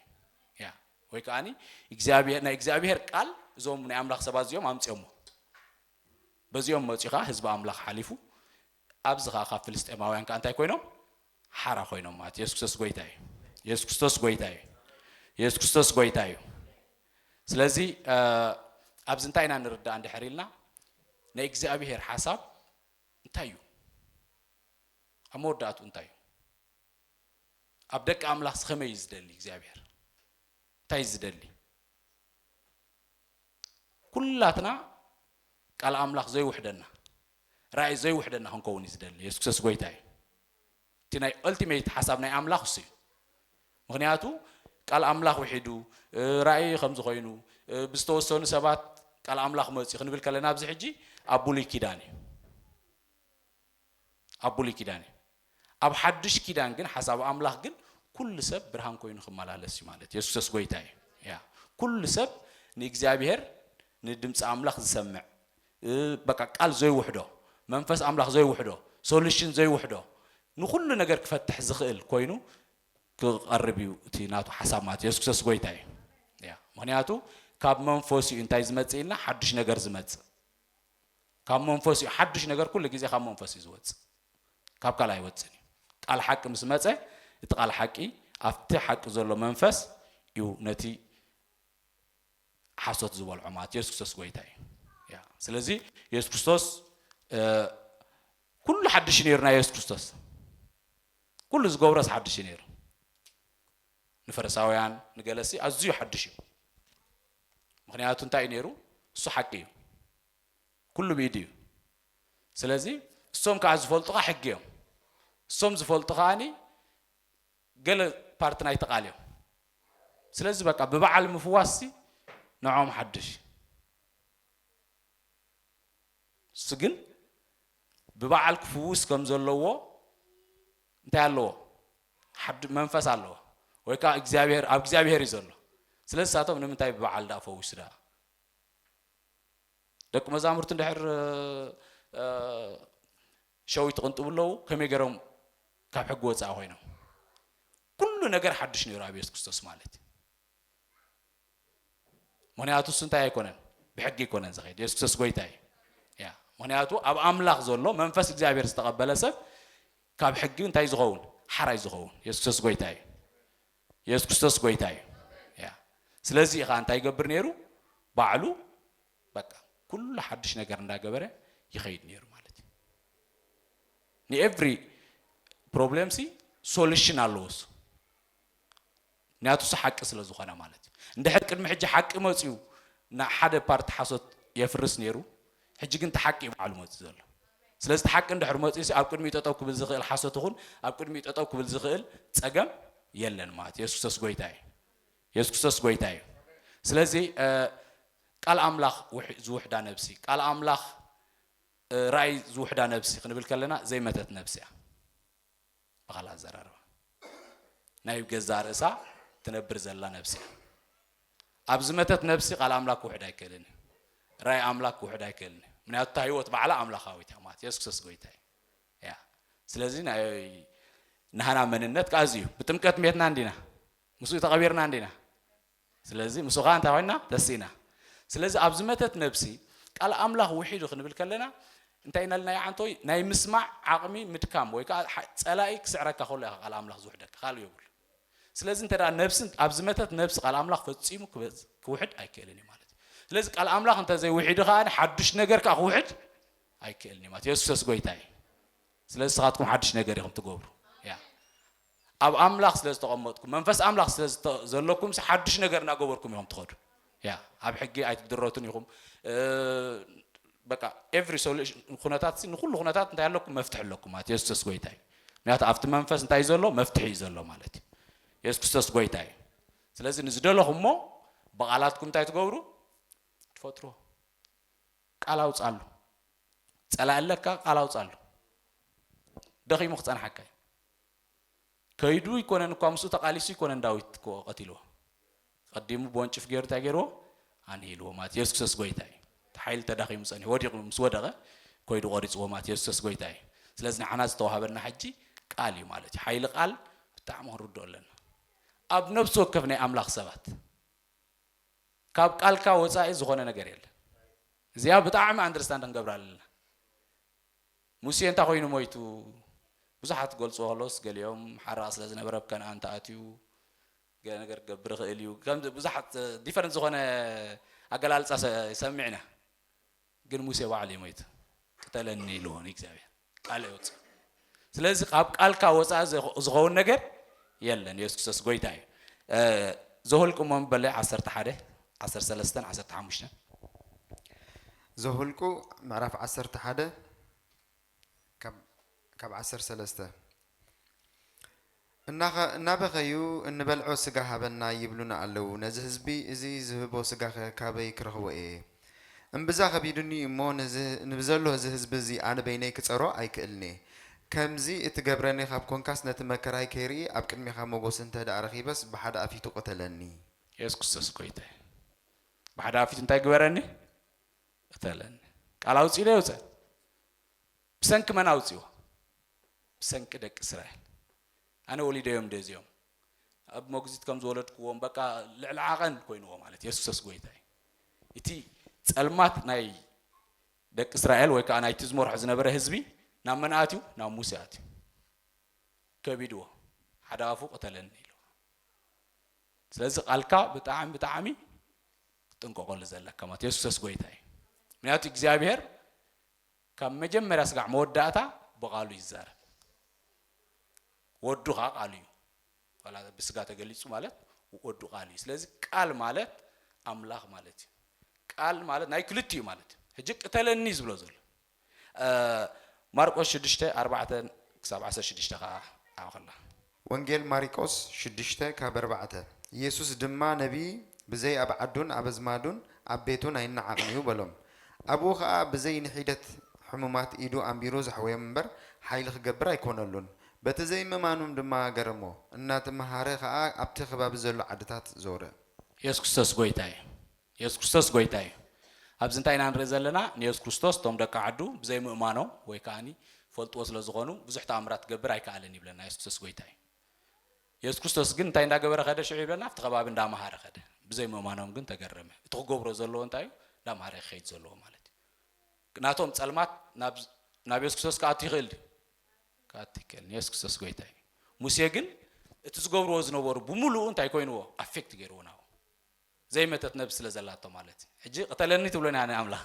ያ ወይ ከዓኒ እግዚኣብሔር ናይ እግዚኣብሔር ቃል እዞም ናይ ኣምላኽ ሰባት እዚኦም ኣምጽኦሞ። በዚኦም መጽኡ ከዓ ህዝቢ ኣምላኽ ሓሊፉ ኣብዚ ከኣ ካብ ፍልስጤማውያን ከኣ እንታይ ኮይኖም ሓራ ኮይኖም ማለት እዩ። የሱስ ክርስቶስ ጎይታ እዩ። የሱስ ክርስቶስ ጎይታ እዩ። የሱስ ክርስቶስ ጎይታ እዩ። ስለዚ ኣብዚ እንታይ ኢና ንርዳእ እንድሕር ኢልና ናይ እግዚኣብሄር ሓሳብ እንታይ እዩ? ኣብ መወዳእትኡ እንታይ እዩ? ኣብ ደቂ ኣምላኽ ከመይ እዩ ዝደሊ እግዚኣብሄር? እንታይ እዩ ዝደሊ? ኩላትና ቃል ኣምላኽ ዘይውሕደና ራኢ ዘይውሕደና ክንከውን እዩ ዝደሊ የሱስ ክርስቶስ ጎይታ እዩ እቲ ናይ ኦልቲሜት ሓሳብ ናይ ኣምላኽ እሱ እዩ ምክንያቱ ቃል ኣምላኽ ውሒዱ ራኢ ከም ዝኾይኑ ብዝተወሰኑ ሰባት ቃል ኣምላኽ መፅኡ ክንብል ከለና ኣብዚ ሕጂ ኣብ ብሉይ ኪዳን እዩ ኣብ ብሉይ ኪዳን እዩ ኣብ ሓዱሽ ኪዳን ግን ሓሳብ ኣምላኽ ግን ኩሉ ሰብ ብርሃን ኮይኑ ክመላለስ እዩ ማለት የሱሰስ ጎይታ እዩ ያ ኩሉ ሰብ ንእግዚኣብሔር ንድምፂ ኣምላኽ ዝሰምዕ በቃ ቃል ዘይውሕዶ መንፈስ ኣምላኽ ዘይውሕዶ ሶሉሽን ዘይውሕዶ ንኹሉ ነገር ክፈትሕ ዝኽእል ኮይኑ ክቐርብ እዩ እቲ ናቱ ሓሳብ ማለት የሱስ ክርስቶስ ጎይታ እዩ ያ ምክንያቱ ካብ መንፈሱ እዩ እንታይ ዝመፅእ ኢልና ሓዱሽ ነገር ዝመፅእ ካብ መንፈስ እዩ ሓዱሽ ነገር ኩሉ ግዜ ካብ መንፈስ እዩ ዝወፅእ ካብ ካልእ ኣይወፅን እዩ ቃል ሓቂ ምስ መፀ እቲ ቃል ሓቂ ኣብቲ ሓቂ ዘሎ መንፈስ እዩ ነቲ ሓሶት ዝበልዖ ማለት የሱስ ክርስቶስ ጎይታ እዩ ያ ስለዚ የሱስ ክርስቶስ ኩሉ ሓድሽ ነይሩ ናይ የሱስ ክርስቶስ ኩሉ ዝገብሮስ ሓድሽ ነይሩ ንፈሪሳውያን ንገለሲ ኣዝዩ ሓድሽ እዩ ምኽንያቱ እንታይ እዩ ነይሩ እሱ ሓቂ እዩ ኩሉ ብኢዱ እዩ ስለዚ እሶም ከዓ ዝፈልጡኻ ሕጊ እዮም እሶም ዝፈልጡ ከዓኒ ገለ ፓርቲ ናይቲ ቃል እዮም ስለዚ በቃ ብበዓል ምፍዋስሲ ንዖም ሓድሽ ንሱ ግን ብበዓል ክፍውስ ከም ዘለዎ እንታይ ኣለዎ ሓድ መንፈስ ኣለዎ ወይ ከዓ እግዚኣብሔር ኣብ እግዚኣብሔር እዩ ዘሎ ስለ ዝሳቶም ንምንታይ ብበዓል ዳ ፈውሱ ዳ ደቂ መዛሙርቲ እንድሕር ሸዊት ትቕንጥቡ ኣለዉ ከመይ ገይሮም ካብ ሕጊ ወፃኢ ኮይኖም ኩሉ ነገር ሓዱሽ ነይሩ ኣብ የሱስ ክርስቶስ ማለት እዩ ምክንያቱ እሱ እንታይ ኣይኮነን ብሕጊ ኣይኮነን ዝኸይድ የሱስ ክርስቶስ ጎይታ እዩ ያ ምክንያቱ ኣብ ኣምላኽ ዘሎ መንፈስ እግዚኣብሔር ዝተቐበለ ሰብ ካብ ሕጊ እንታይ ዝኸውን ሓራይ ዝኸውን የሱስ ክርስቶስ ጎይታ እዩ የሱስ ክርስቶስ ጎይታ እዩ ያ ስለዚ ኢኻ እንታይ ይገብር ነይሩ ባዕሉ በቃ ኩሉ ሓድሽ ነገር እንዳገበረ ይኸይድ ነይሩ ማለት እዩ ንኤቭሪ ፕሮብሌም ሲ ሶሉሽን ኣለዎ እሱ ምክንያቱስ ሓቂ ስለ ዝኾነ ማለት እዩ። እንድሕር ቅድሚ ሕጂ ሓቂ መጺኡ ንሓደ ፓርቲ ሓሶት የፍርስ ነይሩ፣ ሕጂ ግን እቲ ሓቂ እዩ ባዕሉ መጺኡ ዘሎ። ስለዚ እቲ ሓቂ እንድሕር መጺኡሲ ኣብ ቅድሚኡ ጠጠው ክብል ዝኽእል ሓሶት ይኹን ኣብ ቅድሚኡ ጠጠው ክብል ዝኽእል ጸገም የለን ማለት እዩ። የሱስ ክርስቶስ ጎይታ እዩ። የሱስ ክርስቶስ ጎይታ እዩ። ስለዚ ቃል ኣምላኽ ዝውሕዳ ነብሲ ቃል ኣምላኽ ራእይ ዝውሕዳ ነብሲ ክንብል ከለና ዘይመተት ነብሲ እያ። ብኻልእ ኣዘራርባ ናይ ገዛ ርእሳ ትነብር ዘላ ነብሲ እያ። ኣብ ዝመተት ነብሲ ቃል ኣምላክ ክውሕድ ኣይክእልን እዩ። ራእይ ኣምላክ ክውሕድ ኣይክእልን እዩ። ምክንያቱ እታ ህይወት ባዕላ ኣምላካዊት እያ ማለት የሱስ ክርስቶስ ጎይታ እዩ እያ። ስለዚ ናይ ናህና መንነት ከኣ እዚ እዩ። ብጥምቀት ሜትና እንዲና ምስኡ ተቐቢርና እንዲና ስለዚ ምስኡ ኸኣ እንታይ ዄንና? ተሲእና። ስለዚ ኣብ ዝመተት ነብሲ ቃል ኣምላኽ ውሒዱ ክንብል ከለና እንታይ ኢና ኢልና ይዓንቶይ ናይ ምስማዕ ዓቕሚ ምድካም ወይ ከኣ ጸላኢ ክስዕረካ ከሎ ኢኻ ቃል ኣምላኽ ዝውሕደካ ካልእ የብሉን። ስለዚ እንተ ነብሲ ኣብ ዝመተት ነብሲ ቃል ኣምላኽ ፈጺሙ ክውሕድ ኣይክእልን እዩ ማለት እዩ። ስለዚ ቃል ኣምላኽ እንተ ዘይውሒዱ ከኣ ሓዱሽ ነገር ከኣ ክውሕድ ኣይክእልን እዩ ማለት የሱሰስ ጐይታ እዩ። ስለዚ ንስኻትኩም ሓዱሽ ነገር ኢኹም ትገብሩ። ኣብ ኣምላኽ ስለ ዝተቐመጥኩም መንፈስ ኣምላኽ ስለ ዘለኩምሲ ሓዱሽ ነገር እናገበርኩም ኢኹም ትኸዱ ያ ኣብ ሕጊ ኣይትድረቱን ኢኹም በቃ ኤቭሪ ሶሉሽን ኩነታት ንኩሉ ኩነታት እንታይ ኣለኩም መፍትሒ ኣለኩም ማለት የሱስ ጎይታ እዩ ምክንያቱ ኣብቲ መንፈስ እንታይ እዩ ዘሎ መፍትሒ እዩ ዘሎ ማለት እዩ የሱስ ክርስቶስ ጎይታ እዩ ስለዚ ንዝደለኹሞ ብቓላትኩም እንታይ ትገብሩ ትፈጥሮ ቃል ኣውፃሉ ፀላእ ኣለካ ቃል ኣውፃሉ ደኺሙ ክፀንሓካ እዩ ከይዱ ኣይኮነን እኳ ምስኡ ተቃሊሱ ኣይኮነን ዳዊት እኮ ቀቲልዎ ቀዲሙ ብወንጭፍ ገይሩ እንታይ ገይርዎ ኣንሂልዎ ማለት የሱስ ክርስቶስ ጎይታ እዩ እቲ ሓይሊ ተዳኺሙ ፀኒሑ ወዲቑ ምስ ወደቐ ኮይዱ ቆሪፅዎ ማለት የሱስ ክርስቶስ ጎይታ እዩ ስለዚ ንዓና ዝተዋሃበና ሕጂ ቃል እዩ ማለት እዩ ሓይሊ ቃል ብጣዕሚ ክንርድኦ ኣለና ኣብ ነብሲ ወከፍ ናይ ኣምላኽ ሰባት ካብ ቃልካ ወፃኢ ዝኾነ ነገር የለን እዚኣ ብጣዕሚ ኣንደርስታንድ ክንገብራ ኣለና ሙሴ እንታይ ኮይኑ ሞይቱ? ብዙሓት ክገልጽዎ ከለዉስ ገሊኦም ሓራቕ ስለ ዝነበረ ኣብ ከነኣን ተኣትዩ ገለ ነገር ክገብር ይኽእል እዩ ከም ብዙሓት ዲፈረንት ዝኾነ ኣገላልጻ ይሰምዕ ኢና ግን ሙሴ ባዕሉ እዩ ሞይቱ ቅተለኒ ኢልዎ ንእግዚኣብሔር ቃል የውጽእ ስለዚህ ካብ ቃልካ ወፃኢ ዝኸውን ነገር የለን የሱስ ክርስቶስ ጎይታ እዩ ዘሁልቁ እሞ በለ ዓሰርተ ሓደ ዓሰርተ ሰለስተን ዓሰርተ ሓሙሽተን ዘኍልቍ ምዕራፍ ዓሰርተ ሓደ ካብ ዓሰርተ ሰለስተ እናበኸዩ እንበልዖ ስጋ ሃበና ይብሉና ኣለዉ፣ ነዚ ህዝቢ እዚ ዝህቦ ስጋኸ ካበይ ክረኽቦ እየ? እምብዛ ኸቢዱኒ እዩ እሞ፣ ንብዘሎ እዚ ህዝቢ እዚ ኣነ በይነይ ክጸሮ ኣይክእልን እየ። ከምዚ እትገብረኒ ኻብ ኰንካስ፣ ነቲ መከራይ ከይርኢ ኣብ ቅድሜኻ መጐስ እንተ ደኣ ረኺበስ፣ ብሓደ ኣፍ ይቱ ቕተለኒ። የሱስ ክርስቶስ ጐይታይ! ብሓዳር ፊት እንታይ ግበረኒ ቅተለኒ ቃል ኣውፂ ኢለ ይውፀ ብሰንኪ መን ኣውፂዎ ብሰንኪ ደቂ እስራኤል ኣነ ወሊደዮም ደ እዚኦም ኣብ መግዚት ከም ዝወለድክዎም በቃ ልዕሊ ዓቐን ኮይንዎ ማለት የሱሰስ ጎይታ እዩ እቲ ፀልማት ናይ ደቂ እስራኤል ወይ ከዓ ናይቲ ዝመርሖ ዝነበረ ህዝቢ ናብ መን ኣትዩ ናብ ሙሴ ኣትዩ ከቢድዎ ሓደ ኣፉ ቅተለኒ ኢሉ ስለዚ ቃልካ ብጣዕሚ ብጣዕሚ ክትጥንቀቀሉ ዘለካ ማለት የሱሰስ ጎይታ እዩ ምክንያቱ እግዚኣብሄር ካብ መጀመርያ ስጋዕ መወዳእታ ብቃሉ ይዛረብ ወዱ ከዓ ቃሉ እዩ ብስጋ ተገሊጹ ማለት ወዱ ቃል እዩ ስለዚ ቃል ማለት ኣምላኽ ማለት እዩ ቃል ማለት ናይ ክልቲኡ ማለት እዩ ሕጂ ቅተለኒ ዝብሎ ዘሎ ማርቆስ ሽዱሽተ፣ ኣርባዕተ ክሳብ ዓሰርተ ሽዱሽተ ኸኣ ኣዕኹላ። ወንጌል ማሪቆስ ሽዱሽተ ካብ ኣርባዕተ፣ ኢየሱስ ድማ ነቢይ ብዘይ ኣብ ዓዱን ኣብ ኣዝማዱን ኣብ ቤቱን ኣይነዓቕን እዩ በሎም። ኣብኡ ኸኣ ብዘይ ንሒደት ሕሙማት ኢዱ ኣንቢሩ ዘሕወዮም እምበር ሓይሊ ክገብር ኣይኮነሉን። በቲ ዘይምእማኖም ድማ ገረሞ። እናተመሃረ ኸኣ ኣብቲ ከባቢ ዘሎ ዓድታት ዞረ። ኢየሱስ ክርስቶስ ጐይታ እዩ። የሱስ ክርስቶስ ጎይታ እዩ። ኣብዚ እንታይ ኢና ንርኢ ዘለና? ንየሱስ ክርስቶስ እቶም ደቂ ዓዱ ብዘይ ምእማኖም ወይ ከኣ ይፈልጥዎ ስለ ዝኾኑ ብዙሕ ተኣምራት ክገብር ኣይከኣለን ይብለና የሱስ ክርስቶስ ጎይታ እዩ። የሱስ ክርስቶስ ግን እንታይ እንዳገበረ ከደ ሽዑ ይብለና ኣብቲ ከባቢ እንዳመሃረ ከደ ብዘይ ምእማኖም ግን ተገረመ። እቲ ክገብሮ ዘለዎ እንታይ እዩ? እንዳመሃረ ክኸይድ ዘለዎ ማለት እዩ። ናቶም ጸልማት ናብ የሱስ ክርስቶስ ክኣቱ ይኽእል ድዩ? ክኣቱ ይክእል። የሱስ ክርስቶስ ጎይታ እዩ። ሙሴ ግን እቲ ዝገብርዎ ዝነበሩ ብምሉኡ እንታይ ኮይንዎ ኣፌክት ገይርዎ ናብኡ ዘይመተት ነብስ ስለ ዘላቶ ማለት እዩ ሕጂ ቅተለኒ ትብሎኒ ኣነ ኣምላኽ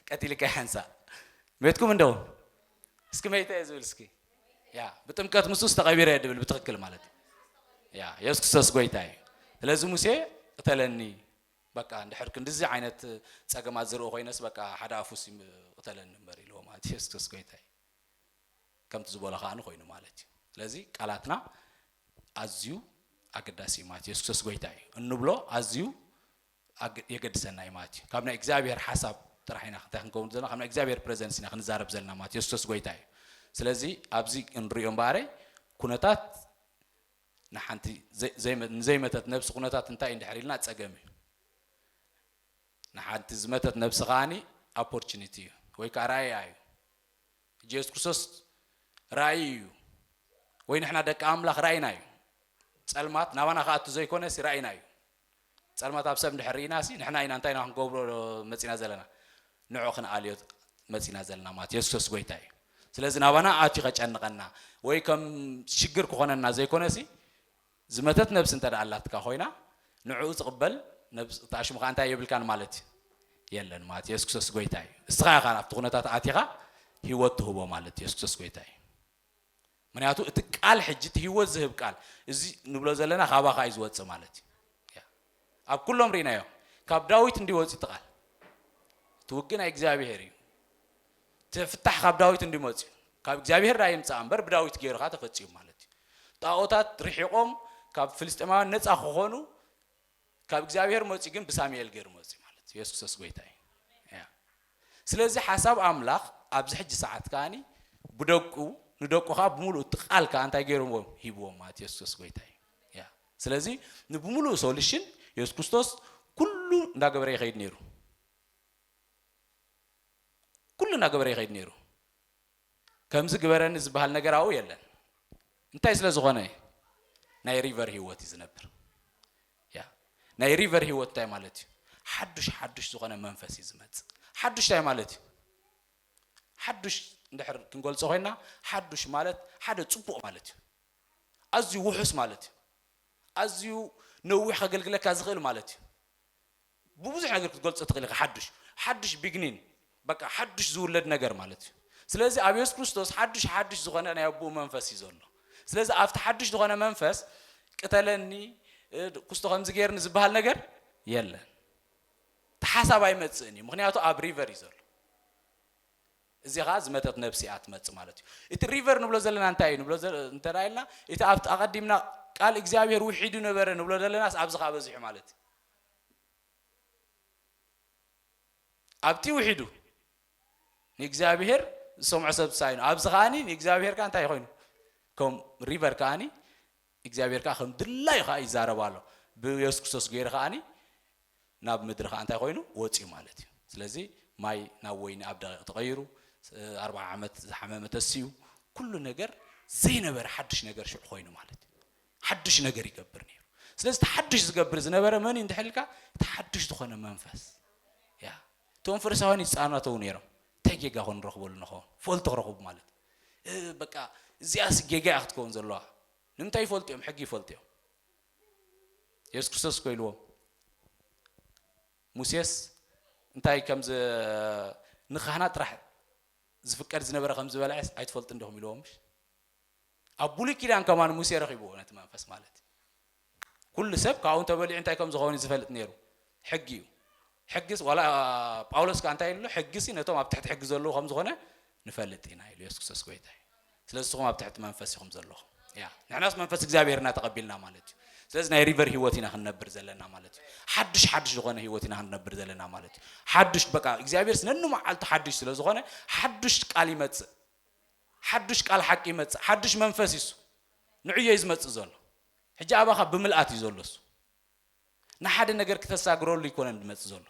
ቀቲልካ ይሓንሳእ ሜትኩም እንዶ እስኪ መይተ እየ ዝብል እስኪ ያ ብጥምቀት ምስ ውስ ተቐቢረ እየ ድብል ብትኽክል ማለት እዩ ያ የሱስ ክርስቶስ ጎይታ እዩ ስለዚ ሙሴ ቅተለኒ በቃ እንድሕር ክንድዚ ዓይነት ፀገማት ዝርኢ ኮይነስ በቃ ሓደ ኣፉስ ቅተለኒ እምበር ኢልዎ ማለት እዩ የሱስ ክርስቶስ ጎይታ እዩ ከምቲ ዝበሎ ከዓ ኮይኑ ማለት እዩ ስለዚ ቃላትና ኣዝዩ ኣገዳሲ እዩ ማለት ኢየሱስ ክርስቶስ ጎይታ እዩ እንብሎ ኣዝዩ የገድሰና እዩ ማለት እዩ ካብ ናይ እግዚኣብሔር ሓሳብ ጥራሕ ኢና እንታይ ክንከውን ዘለና ካብ ናይ እግዚኣብሔር ፕሬዘንስ ኢና ክንዛረብ ዘለና ማለት ኢየሱስ ክርስቶስ ጎይታ እዩ ስለዚ ኣብዚ እንሪኦ እምበኣረይ ኩነታት ንሓንቲ ንዘይመተት ነብሲ ኩነታት እንታይ እዩ ድሕር ኢልና ፀገም እዩ ንሓንቲ ዝመተት ነብሲ ከዓኒ ኦፖርቹኒቲ እዩ ወይ ከዓ ራእያ እዩ ኢየሱስ ክርስቶስ ራእይ እዩ ወይ ንሕና ደቂ ኣምላኽ ራእይና እዩ ጸልማት ናባና ክኣቱ ዘይኮነ ሲ ራእይና እዩ ጸልማት ኣብ ሰብ እንድሕር ርኢና ሲ ንሕና ኢና እንታይ ኢና ክንገብሮ መጺና ዘለና ንዑ ክንኣልዮ መጺና ዘለና ማለት ኢየሱስ ክርስቶስ ጎይታ እዩ ስለዚ ናባና ኣትዩ ከጨንቐና ወይ ከም ሽግር ክኾነና ዘይኮነ ሲ ዝመተት ነብሲ እንተ ኣላትካ ኮይና ንዕኡ ዝቕበል ነብሲ እታ ሽሙ ከኣ እንታይ የብልካን ማለት የለን ማለት የሱስ ክርስቶስ ጎይታ እዩ እስኻ ኢኻ ኣብቲ ኩነታት ኣቲኻ ህይወት ትህቦ ማለት የሱስ ክርስቶስ ጎይታ እዩ ምክንያቱ እቲ ቃል ሕጂ እቲ ህይወት ዝህብ ቃል እዚ ንብሎ ዘለና ካባኻ እዩ ዝወፅእ ማለት እዩ ኣብ ኩሎም ሪእናዮ ካብ ዳዊት እንድዩ ወጽዩ እቲ ቃል እቲ ውግእ ናይ እግዚኣብሄር እዩ እቲ ፍታሕ ካብ ዳዊት እንድዩ መጽዩ ካብ እግዚኣብሄር ዳኣ ይምጻእ እምበር ብዳዊት ገይሩ ከኣ ተፈጺሙ ማለት እዩ ጣኦታት ርሒቆም ካብ ፍልስጤማውያን ነጻ ክኾኑ ካብ እግዚኣብሄር መጽዩ ግን ብሳሙኤል ገይሩ መጽዩ ማለት እዩ የሱስ ክርስቶስ ጎይታ እዩ ስለዚ ሓሳብ ኣምላኽ ኣብዚ ሕጂ ሰዓት ከዓኒ ብደቁ ንደቁ ከዓ ብምሉእ እቲ ቃል ከዓ እንታይ ገይርዎም ሂብዎም ማለት የሱስ ጎይታ እዩ ስለዚ ንብምሉኡ ሶሉሽን የሱስ ክርስቶስ ኩሉ እንዳገበረ ይኸይድ ነይሩ ኩሉ እንዳገበረ ይኸይድ ነይሩ ከምዚ ግበረኒ ዝበሃል ነገር ኣብኡ የለን እንታይ ስለ ዝኾነ ናይ ሪቨር ህይወት እዩ ዝነብር ያ ናይ ሪቨር ህይወት እንታይ ማለት እዩ ሓዱሽ ሓዱሽ ዝኾነ መንፈስ እዩ ዝመፅእ ሓዱሽ እንታይ ማለት እዩ ሓዱሽ እንድሕር ክንገልፆ ኮይና ሓዱሽ ማለት ሓደ ፅቡቕ ማለት እዩ ኣዝዩ ውሑስ ማለት እዩ። ኣዝዩ ነዊሕ ከገልግለካ ዝኽእል ማለት እዩ። ብብዙሕ ነገር ክትገልጾ ትኽእል ኢኻ ሓዱሽ። ሓዱሽ ቢግኒን በቃ ሓዱሽ ዝውለድ ነገር ማለት እዩ። ስለዚ ኣብ የሱስ ክርስቶስ ሓዱሽ ሓዱሽ ዝኾነ ናይ ኣቦኡ መንፈስ እዩ ዘሎ። ስለዚ ኣብቲ ሓዱሽ ዝኾነ መንፈስ ቅተለኒ ኩስቶ ከምዚ ጌርኒ ዝበሃል ነገር የለን። እቲ ሓሳብ ኣይመጽእን እዩ ምክንያቱ ኣብ ሪቨር እዩ ዘሎ። እዚ ኸኣ ዝመተት ነብሲ እያ ትመጽእ ማለት እዩ። እቲ ሪቨር ንብሎ ዘለና እንታይ እዩ ንብሎ እንተ ኢልና እቲ ኣብቲ ኣቐዲምና ቃል እግዚኣብሄር ውሒዱ ነበረ ንብሎ ዘለናስ ኣብዚ ኸኣ በዚሑ ማለት እዩ። ኣብቲ ውሒዱ ንእግዚኣብሄር ዝሰምዖ ሰብ ሳይኑ ኣብዚ ከኣኒ ንእግዚኣብሄር ከኣ እንታይ ኮይኑ ከም ሪቨር ከኣኒ እግዚኣብሄር ከኣ ከም ድላዩ ከኣ ይዛረብ ኣሎ ብየሱስ ክርስቶስ ገይሩ ከኣ ናብ ምድሪ ከኣ እንታይ ኮይኑ ወጽዩ ማለት እዩ ስለዚ ማይ ናብ ወይኒ ኣብ ደቂቅ ተቀይሩ ኣርብዓ ዓመት ዝሓመመ ተሲኡ ኩሉ ነገር ዘይነበረ ሓድሽ ነገር ሽዑ ኮይኑ ማለት እዩ ሓድሽ ነገር ይገብር ነይሩ ስለዚ እቲ ሓድሽ ዝገብር ዝነበረ መን እዩ እንድሕልካ እቲ ሓድሽ ዝኾነ መንፈስ ያ እቶም ፈሪሳውያን ይፃናተው ነይሮም እንታይ ጌጋ ኮን ንረኽበሉ ንኸውን ፈልቲ ክረኽቡ ማለት እህ በቃ እዚኣስ ጌጋ እያ ክትከውን ዘለዋ ንምንታይ ይፈልጡ እዮም ሕጊ ይፈልጡ እዮም የሱስ ክርስቶስ እኮ ኢልዎም ሙሴስ እንታይ ከም ንካህናት ጥራሕ ዝፍቀድ ዝነበረ ከም ዝበልዐስ ኣይትፈልጡ እንደኹም ኢልዎም ምሽ ኣብ ብሉይ ኪዳን ከማን ሙሴ ረኺብዎ ነቲ መንፈስ ማለት እዩ ኩሉ ሰብ ካብኡ እንተበሊዑ እንታይ ከም ዝኸውን እዩ ዝፈልጥ ነይሩ፣ ሕጊ እዩ። ሕጊስ ዋላ ጳውሎስ ከኣ እንታይ ኢሉ ኣሎ? ሕጊሲ ነቶም ኣብ ትሕቲ ሕጊ ዘለዉ ከም ዝኾነ ንፈልጥ ኢና ኢሉ፣ የሱስ ክርስቶስ ጎይታ እዩ። ስለዚ ንስኹም ኣብ ትሕቲ መንፈስ ኢኹም ዘለኹም። ያ ንሕናስ መንፈስ እግዚኣብሄር ኢና ተቐቢልና ማለት እዩ። ስለዚ ናይ ሪቨር ህይወት ኢና ክንነብር ዘለና ማለት እዩ። ሓድሽ ሓድሽ ዝኾነ ህይወት ኢና ክንነብር ዘለና ማለት እዩ። ሓድሽ በቃ እግዚኣብሄርስ ነንመዓልቱ ሓድሽ ስለ ዝኾነ ሓድሽ ቃል ይመጽእ፣ ሓድሽ ቃል ሓቂ ይመጽእ፣ ሓድሽ መንፈስ ይሱ ንዕዮ እዩ ዝመጽእ ዘሎ። ሕጂ ኣባኻ ብምልኣት እዩ ዘሎ እሱ ንሓደ ነገር ክተሳግረሉ ኣይኮነን ዝመጽእ ዘሎ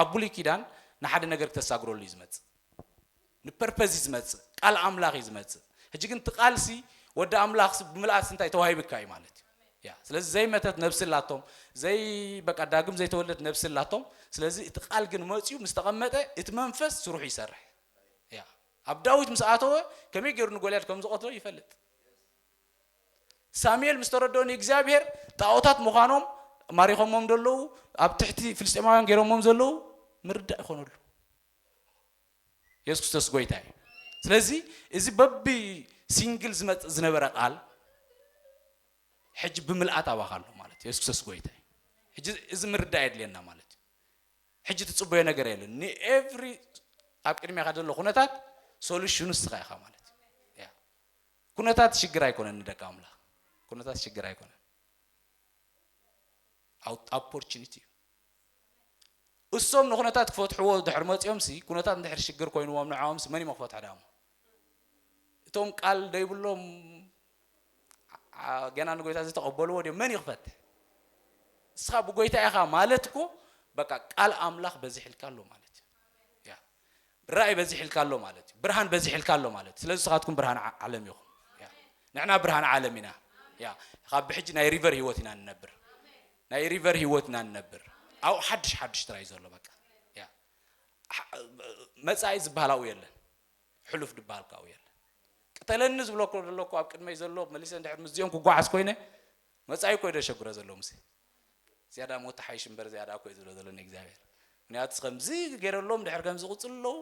ኣብ ብሉይ ኪዳን ንሓደ ነገር ክተሳግረሉ እዩ ዝመጽእ ንፐርፐዝ እዩ ዝመጽእ ቃል ኣምላኽ እዩ ዝመጽእ ሕጂ ግን እቲ ቃልሲ ወዲ ኣምላኽ ብምልኣት እንታይ ተዋሂብካ እዩ ማለት እዩ ያ ስለዚ ዘይመተት ነብሲ ኣላቶም ዘይ በቃ ዳግም ዘይተወለድ ነብሲ ኣላቶም ስለዚ እቲ ቃል ግን መፅኡ ምስ ተቐመጠ እቲ መንፈስ ስርሑ ይሰርሕ ያ ኣብ ዳዊት ምስ ኣተወ ከመይ ገይሩ ንጎልያድ ከም ዝቐትሎ ይፈልጥ ሳሙኤል ምስ ተረድኦ ንእግዚኣብሄር ጣኦታት ምዃኖም ማሪኾሞም ዘለዉ ኣብ ትሕቲ ፍልስጤማውያን ገይሮሞም ዘለዉ ምርዳእ ይኾነሉ የሱስ ክርስቶስ ጎይታ እዩ ስለዚ እዚ በቢ ሲንግል ዝመፅእ ዝነበረ ቃል ሕጂ ብምልኣት ኣባኻ ኣሎ ማለት እዩ የሱስ ክርስቶስ ጎይታ እዩ ሕጂ እዚ ምርዳእ የድልየና ማለት እዩ ሕጂ ትፅበዮ ነገር የለን ንኤቭሪ ኣብ ቅድሚኻ ዘሎ ኩነታት ሶሉሽኑ ንስኻ ኢኻ ማለት እዩ ኩነታት ሽግር ኣይኮነን ንደቂ ኣምላኽ ኩነታት ሽግር ኣይኮነን ኣፖርቹኒቲ እዩ እሶም ንኩነታት ክፈትሕዎ ድሕር መፂኦም ሲ ኩነታት እንድሕር ሽግር ኮይንዎም ንዕኦም ሲ መን እዮም ክፈትሐ ዳሞ እቶም ቃል ደይብሎም ገና ንጎይታ ዝተቐበልዎ ድዮም መን እዩ ክፈትሕ እስኻ ብጎይታ ኢኻ ማለት እኮ በቃ ቃል ኣምላኽ በዚሕልካ ኣሎ ማለት እዩ ራእይ በዚሕልካ ኣሎ ማለት እዩ ብርሃን በዚሕልካ ኣሎ ማለት ስለዚ ንስኻትኩም ብርሃን ዓለም ኢኹም ንሕና ብርሃን ዓለም ኢና ያ ካብ ብሕጂ ናይ ሪቨር ህይወት ኢና ንነብር ናይ ሪቨር ህይወት ኢና ንነብር ኣብኡ ሓድሽ ሓድሽ ጥራይ ዘሎ በቃ ያ መጻኢ ዝበሃል ኣብኡ የለን ሕሉፍ ድበሃል ካብኡ የለን ቅተለኒ ዝብሎ ዘለኩ ኣብ ቅድመይ ዘሎ መሊሰ እንድሕር ምስዚኦም ክጓዓዝ ኮይነ መጻኢ ኮይ ደሸግሮ ዘሎ ምስ ዝያዳ ሞት ትሓይሽ እምበር ዝያዳ እኮ እዩ ዝብሎ ዘሎ ንእግዚኣብሔር ምክንያቱ ከምዚ ገይረሎም ድሕር ከም ዝቕፅሉ ኣለዉ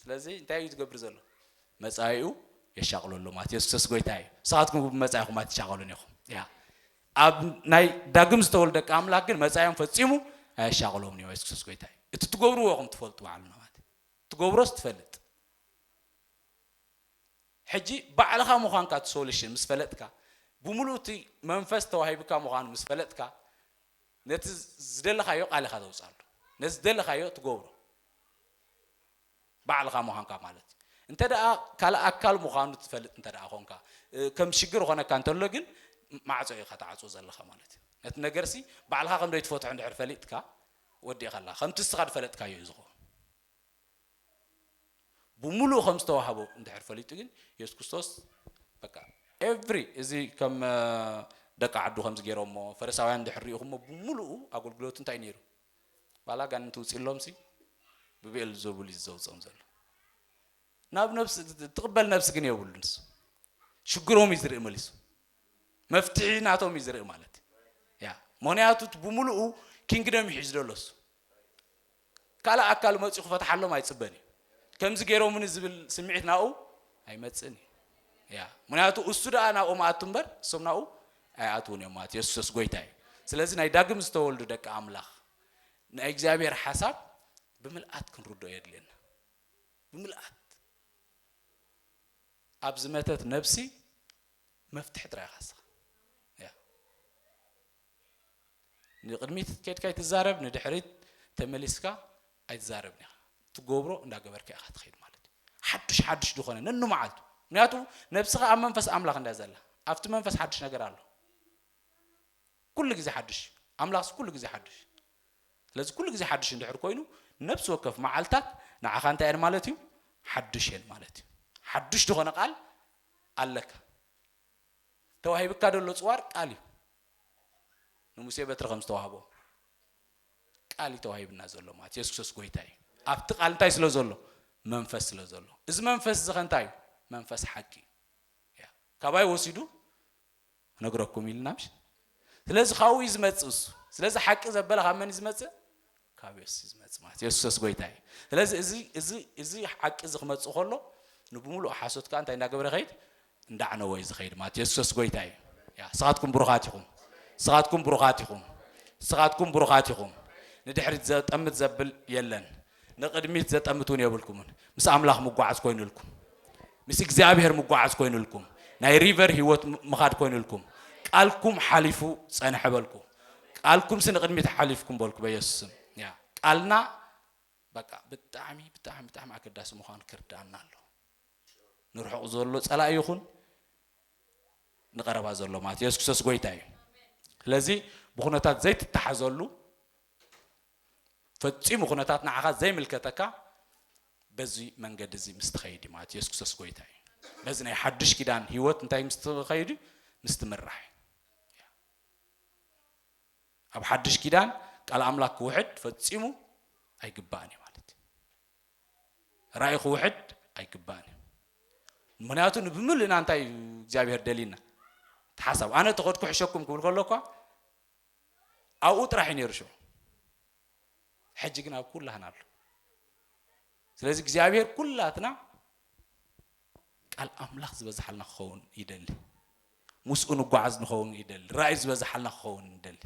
ስለዚ እንታይ እዩ ዝገብር ዘሎ መፃኢኡ የሻቕሎ ኣሎ ማለት የሱስ ጎይታ እዩ ንስኻትኩም ብመፃኢኹም ኣይትሻቐሉን ኢኹም ያ ኣብ ናይ ዳግም ዝተወልደ ደቂ ኣምላክ ግን መፃኢኦም ፈፂሙ ኣየሻቕሎምን እዩ የሱስ ጎይታ እዩ እቲ ትገብርዎ ኹም ትፈልጡ ባዕሉ ማለት ትገብሮስ ትፈልጥ ሕጂ ባዕልኻ ምዃንካ እቲ ሶሉሽን ምስ ፈለጥካ፣ ብምሉኡ እቲ መንፈስ ተዋሂቡካ ምዃኑ ምስ ፈለጥካ፣ ነቲ ዝደለኻዮ ቃል ኢኻ ተውጽኣሉ። ነቲ ዝደለኻዮ ትገብሮ ባዕልኻ ምዃንካ ማለት እዩ። እንተደኣ ካልእ ኣካል ምዃኑ ትፈልጥ እንተደኣ ኾንካ፣ ከም ሽግር ይኾነካ እንተሎ ግን ማዕጾ ኢኻ ትዓጽዎ ዘለኻ ማለት እዩ። ነቲ ነገርሲ ባዕልኻ ከም ዘይትፈትሖ እንድሕር ፈሊጥካ ወዲእኻላ። ከምቲ እስኻ ዝፈለጥካዮ እዩ ዝኸውን። ብምሉኡ ከም ዝተዋህቦ እንድሕር ፈሊጡ ግን የሱስ ክርስቶስ በቃ ኤቭሪ እዚ ከም ደቂ ዓዱ ከምዚ ገይሮሞ ፈሪሳውያን እንድሕር ሪኢኹሞ ብምሉኡ ኣገልግሎት እንታይ ነይሩ ባላ ጋን እንትውፅሎም ሲ ብብኤል ዘቡል እዩ ዘውፅኦም ዘሎ ናብ ነብሲ ትቕበል ነብሲ ግን የብሉ ንሱ ሽግሮም እዩ ዝርኢ መሊሱ መፍትሒ ናቶም እዩ ዝርኢ ማለት ያ ምክንያቱ ብምሉኡ ኪንግደም ይሒዝ ዘሎ እሱ ካልእ ኣካሉ መጺኡ ክፈትሓሎም ኣይጽበን እዩ። ከምዚ ገይሮሙኒ ዝብል ስምዒት ናብኡ ኣይመጽእን እዩ። ያ ምክንያቱ እሱ ደኣ ናብኦም ኣቱ እምበር እሶም ናብኡ ኣይኣትዉን እዮም ማለት ኢየሱስ ክርስቶስ ጎይታ እዩ። ስለዚ ናይ ዳግም ዝተወልዱ ደቂ ኣምላኽ ናይ እግዚኣብሔር ሓሳብ ብምልኣት ክንርድኦ የድልየና። ብምልኣት ኣብ ዝመተት ነብሲ መፍትሒ ጥራይ ኢኻ ንስኻ። ያ ንቕድሚት ኬድካ ኣይትዛረብ ንድሕሪት ተመሊስካ ኣይትዛረብን ኢኻ ትገብሮ እንዳገበርካ ኢኻ ትኸይድ ማለት እዩ ሓዱሽ ሓዱሽ ዝኾነ ነንመዓልቱ ምክንያቱ ነብስኻ ኣብ መንፈስ ኣምላኽ እንዳ ዘላ ኣብቲ መንፈስ ሓዱሽ ነገር ኣሎ ኩሉ ግዜ ሓዱሽ እዩ ኣምላኽስ ኩሉ ግዜ ሓዱሽ ስለዚ ኩሉ ግዜ ሓዱሽ እንድሕር ኮይኑ ነብሲ ወከፍ መዓልታት ንዓኻ እንታይ እየን ማለት እዩ ሓዱሽ እየን ማለት እዩ ሓዱሽ ዝኾነ ቃል ኣለካ ተዋሂብካ ዘሎ ጽዋር ቃል እዩ ንሙሴ በትሪ ከም ዝተዋህቦ ቃል እዩ ተዋሂብና ዘሎ ማለት የሱስ ክርስቶስ ጎይታ እዩ ኣብቲ ቃል እንታይ ስለ ዘሎ መንፈስ ስለ ዘሎ እዚ መንፈስ እዚ ከ እንታይ እዩ መንፈስ ሓቂ እዩ ካባይ ወሲዱ ነግረኩም ኢልና ምሽ ስለዚ ካብኡ እዩ ዝመጽእ እሱ ስለዚ ሓቂ ዘበለ ካብ መን ዝመጽእ ካብ የሱስ እዩ ዝመጽእ ማለት የሱስ ጎይታ እዩ ስለዚ እዚ እዚ እዚ ሓቂ እዚ ክመጽእ ከሎ ንብምሉእ ሓሶት ከዓ እንታይ እንዳገበረ ከይድ እንዳዕነወ እዩ ዝኸይድ ማለት የሱስ ጎይታ እዩ ያ ስኻትኩም ብሩኻት ኢኹም ስኻትኩም ብሩኻት ኢኹም ስኻትኩም ብሩኻት ኢኹም ንድሕሪት ዘጠምት ዘብል የለን ንቕድሚት ዘጠምቱን የብልኩምን ምስ ኣምላኽ ምጓዓዝ ኮይኑልኩም ምስ እግዚኣብሔር ምጓዓዝ ኮይኑልኩም ናይ ሪቨር ህይወት ምኻድ ኮይኑልኩም ቃልኩም ሓሊፉ ጸንሐ በልኩ ቃልኩም ሲ ንቕድሚት ሓሊፍኩም በልኩ በየሱስም ያ ቃልና በቃ ብጣዕሚ ብጣዕሚ ብጣዕሚ ኣገዳሲ ምዃኑ ክርዳኣና ኣሎ ንርሑቕ ዘሎ ጸላኢ ይኹን ንቐረባ ዘሎ ማለት የሱስ ክርስቶስ ጎይታ እዩ ስለዚ ብኩነታት ዘይትተሓዘሉ ፈጺሙ ኩነታት ንዓኻ ዘይምልከተካ በዚ መንገዲ እዚ ምስ ትኸይድ እዩ ማለት የሱስ ክርስቶስ ጎይታ እዩ በዚ ናይ ሓድሽ ኪዳን ህይወት እንታይ ምስ ትኸይድ እዩ ምስ ትምራሕ እዩ ኣብ ሓድሽ ኪዳን ቃል ኣምላክ ክውሕድ ፈጺሙ ኣይግባእን እዩ ማለት እዩ ራእይ ክውሕድ ኣይግባእን እዩ ምክንያቱ ንብምልእና እንታይ እዩ እግዚኣብሄር ደልዩና ተሓሳብ ኣነ ተኸድኩ ሕሸኩም ክብል ከሎ እኳ ኣብኡ ጥራሕ እዩ ነይሩ ሽዑ ሕጂ ግን ኣብ ኩላህና ኣሎ ስለዚ እግዚኣብሔር ኩላትና ቃል ኣምላኽ ዝበዝሓልና ክኸውን ይደሊ ምስኡ ንጓዓዝ ንኸውን ይደሊ ራእይ ዝበዝሓልና ክኸውን ይደሊ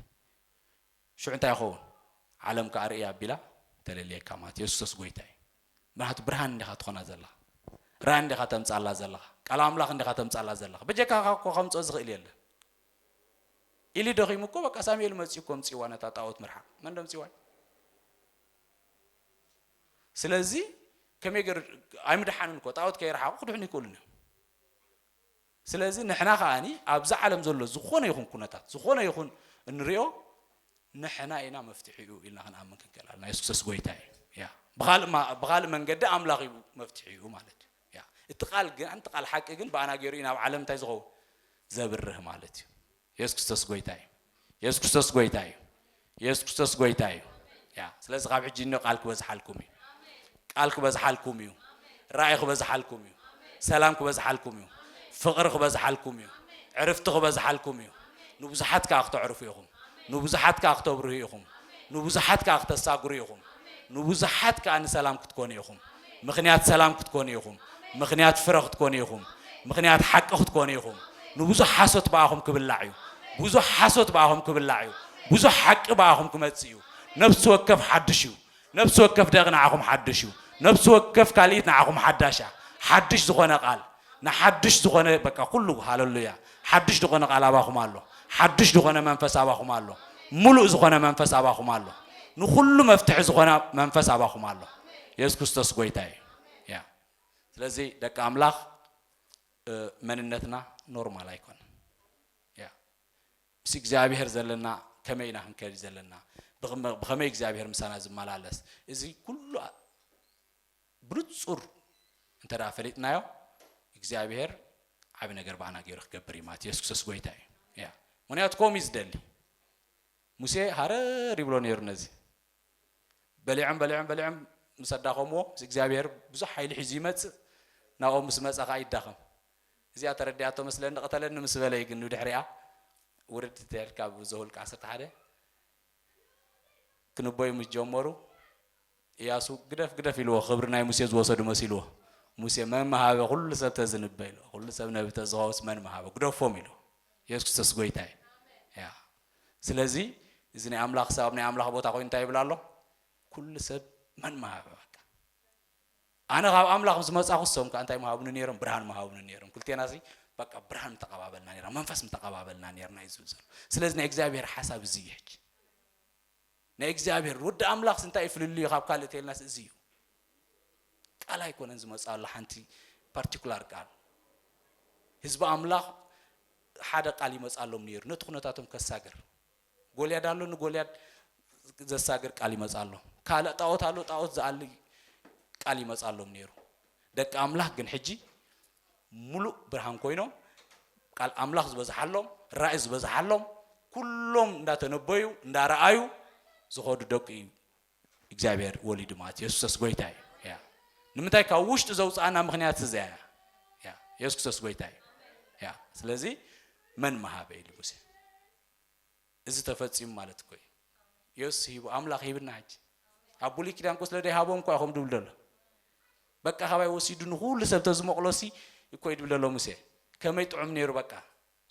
ሽዑ እንታይ ይኸውን ዓለም ከዓ ርእያ ኣቢላ ተለልየካ ማለት የሱስ ጎይታ እዩ ምክንያቱ ብርሃን እንዲኻ ትኾና ዘለኻ ራእይ እንዲኻ ተምፃላ ዘለኻ ቃል ኣምላኽ እንዲኻ ተምፃላ ዘለኻ በጀካኻ እኮ ከምፅኦ ዝኽእል የለን ኢሊ ደኺሙ እኮ በቃ ሳሙኤል መጽዩ እኮ ኣምጽዋ ነታ ጣዖት ምርሓቕ መን ደምጽዋ ስለዚ ከመይ ገር ኣይምድሓንን እኮ ጣዖት ከይረሓቑ ክድሕኑ ይክእሉን እዮም ስለዚ ንሕና ከዓኒ ኣብዚ ዓለም ዘሎ ዝኾነ ይኹን ኩነታት ዝኾነ ይኹን እንሪኦ ንሕና ኢና መፍትሒኡ ኢልና ክንኣምን ክንክእል ኣለና የሱስ ክርስቶስ ጎይታ እዩ ብኻልእ መንገዲ ኣምላኽ እዩ መፍትሒኡ ማለት እዩ እያ እቲ ቃል ግን ኣንቲ ቃል ሓቂ ግን ብኣና ገይሩ እዩ ናብ ዓለም እንታይ ዝኸውን ዘብርህ ማለት እዩ የሱስ ክርስቶስ ጎይታ እዩ የሱስ ክርስቶስ ጎይታ እዩ የሱስ ክርስቶስ ጎይታ እዩ ያ ስለዚ ካብ ሕጂ እኒ ቃል ክበዝሓልኩም እዩ ቃል ክበዝሓልኩም እዩ ራእይ ክበዝሓልኩም እዩ ሰላም ክበዝሓልኩም እዩ ፍቕሪ ክበዝሓልኩም እዩ ዕርፍቲ ክበዝሓልኩም እዩ ንብዙሓት ከዓ ክተዕርፉ ኢኹም ንብዙሓት ከዓ ክተብርሁ ኢኹም ንብዙሓት ከዓ ክተሳግሩ ኢኹም ንብዙሓት ከዓ ንሰላም ክትኮኑ ኢኹም ምኽንያት ሰላም ክትኮኑ ኢኹም፣ ምኽንያት ፍረ ክትኮኑ ኢኹም፣ ምኽንያት ሓቂ ክትኮኑ ኢኹም። ንብዙሕ ሓሶት ብኣኹም ክብላዕ እዩ፣ ብዙሕ ሓሶት ብኣኹም ክብላዕ እዩ፣ ብዙሕ ሓቂ ብኣኹም ክመጽእ እዩ። ነፍሲ ወከፍ ሓድሽ እዩ፣ ነፍሲ ወከፍ ደቒ ንዓኹም ሓድሽ እዩ፣ ነፍሲ ወከፍ ካልኢት ንዓኹም ሓዳሽ እያ፣ ሓድሽ ዝኾነ ቓል። ንሓድሽ ዝኾነ በቃ ኩሉ ሃለሉያ ሓድሽ ድኾነ ቃል ኣባኹም ኣሎ ሓድሽ ድኾነ መንፈስ ኣባኹም ኣሎ ሙሉእ ዝኾነ መንፈስ ኣባኹም ኣሎ ንኹሉ መፍትሒ ዝኾነ መንፈስ ኣባኹም ኣሎ የሱስ ክርስቶስ ጎይታ እዩ ያ ስለዚ ደቂ ኣምላኽ መንነትና ኖርማል ኣይኮነን ያ ምስ እግዚኣብሔር ዘለና ከመይ ኢና ክንከድ ዘለና ብኸመይ እግዚኣብሔር ምሳና ዝመላለስ እዚ ኩሉ ብንጹር እንተ ፈሊጥናዮ እግዚኣብሄር ዓቢ ነገር ባና ገይሩ ክገብር እዩ ማለት የሱስ ክርስቶስ ጎይታ እዩ ያ ምክንያቱ ከምኡ እዩ ዝደሊ ሙሴ ሃረር ይብሎ ነይሩ ነዚ በሊዖም በሊዖም በሊዖም ምስ ኣዳኸምዎ ምስ እግዚኣብሄር ብዙሕ ሓይሊ ሒዙ ይመጽእ ናብኦም ምስ መጸ ከዓ ይዳኸም እዚኣ ተረዲኣቶ መስለኒ ቐተለኒ ምስ በለይ ግን ንድሕሪኣ ውርድ ትሕል ካብ ዘሁልቅ ዓሰርተ ሓደ ክንበዩ ምስ ጀመሩ እያሱ ግደፍ ግደፍ ኢልዎ ክብሪ ናይ ሙሴ ዝወሰዱ መሲልዎ ሙሴ መን መሃበ ኩሉ ሰብ ተዝንበ ኢሉ ኩሉ ሰብ ነቢ ተዝኸውስ መን መሃበ ግደፎም ኢሉ የሱስ ክርስቶስ ጎይታ እዩ ያ ስለዚ እዚ ናይ ኣምላኽ ሰብ ኣብ ናይ ኣምላኽ ቦታ ኮይኑ እንታይ ይብል ኣሎ ኩሉ ሰብ መን መሃበ በቃ ኣነ ካብ ኣምላኽ ምስ መጻኹ እሶም ከኣ እንታይ ምሃቡኒ ነይሮም ብርሃን ምሃቡኒ ነይሮም ክልቴናሲ በቃ ብርሃን ምተቐባበልና ነይራ መንፈስ ምተቐባበልና ነይርና እዩ ዝብል ዘሎ ስለዚ ናይ እግዚኣብሔር ሓሳብ እዚ እዩ ሕጂ ናይ እግዚኣብሔር ወዲ ኣምላኽስ እንታይ እዩ ፍልልዩ ካብ ካልእ ተልናስ እዚ እዩ ቃል ኣይኮነን ዝመጽኣሉ ሓንቲ ፓርቲኩላር ቃል ህዝቢ ኣምላኽ ሓደ ቃል ይመጽኣሎም ነይሩ ነቲ ኩነታቶም ከሳግር ጎልያድ ኣሎ ንጎልያድ ዘሳግር ቃል ይመጻሎም ካልእ ጣዖት ኣሎ ጣዖት ዝኣሊ ቃል ይመጻሎም ነይሩ ደቂ ኣምላኽ ግን ሕጂ ሙሉእ ብርሃን ኮይኖም ቃል ኣምላኽ ዝበዝሓሎም ራእይ ዝበዝሓሎም ኩሎም እንዳተነበዩ እንዳረኣዩ ዝኸዱ ደቂ እዩ እግዚኣብሔር ወሊዱ ማለት የሱሰስ ጎይታ እዩ ያ ንምንታይ ካብ ውሽጢ ዘውፅኣና ምክንያት እዚያ እያ ያ የሱስ ክርስቶስ ጎይታ እዩ ያ ስለዚ መን መሃበ ኢሉ ሙሴ እዚ ተፈጺሙ ማለት እኮ እዩ። የሱስ ሂቡ ኣምላኽ ሂብና ሕጂ ኣብ ብሉይ ኪዳን እኮ ስለ ደይሃቦም እኮ ይኹም ድብል ደሎ በቃ ካባይ ወሲዱ ንኹሉ ሰብ ተዝመቕሎሲ እኮ እዩ ድብል ደሎ ሙሴ ከመይ ጥዑም ነይሩ በቃ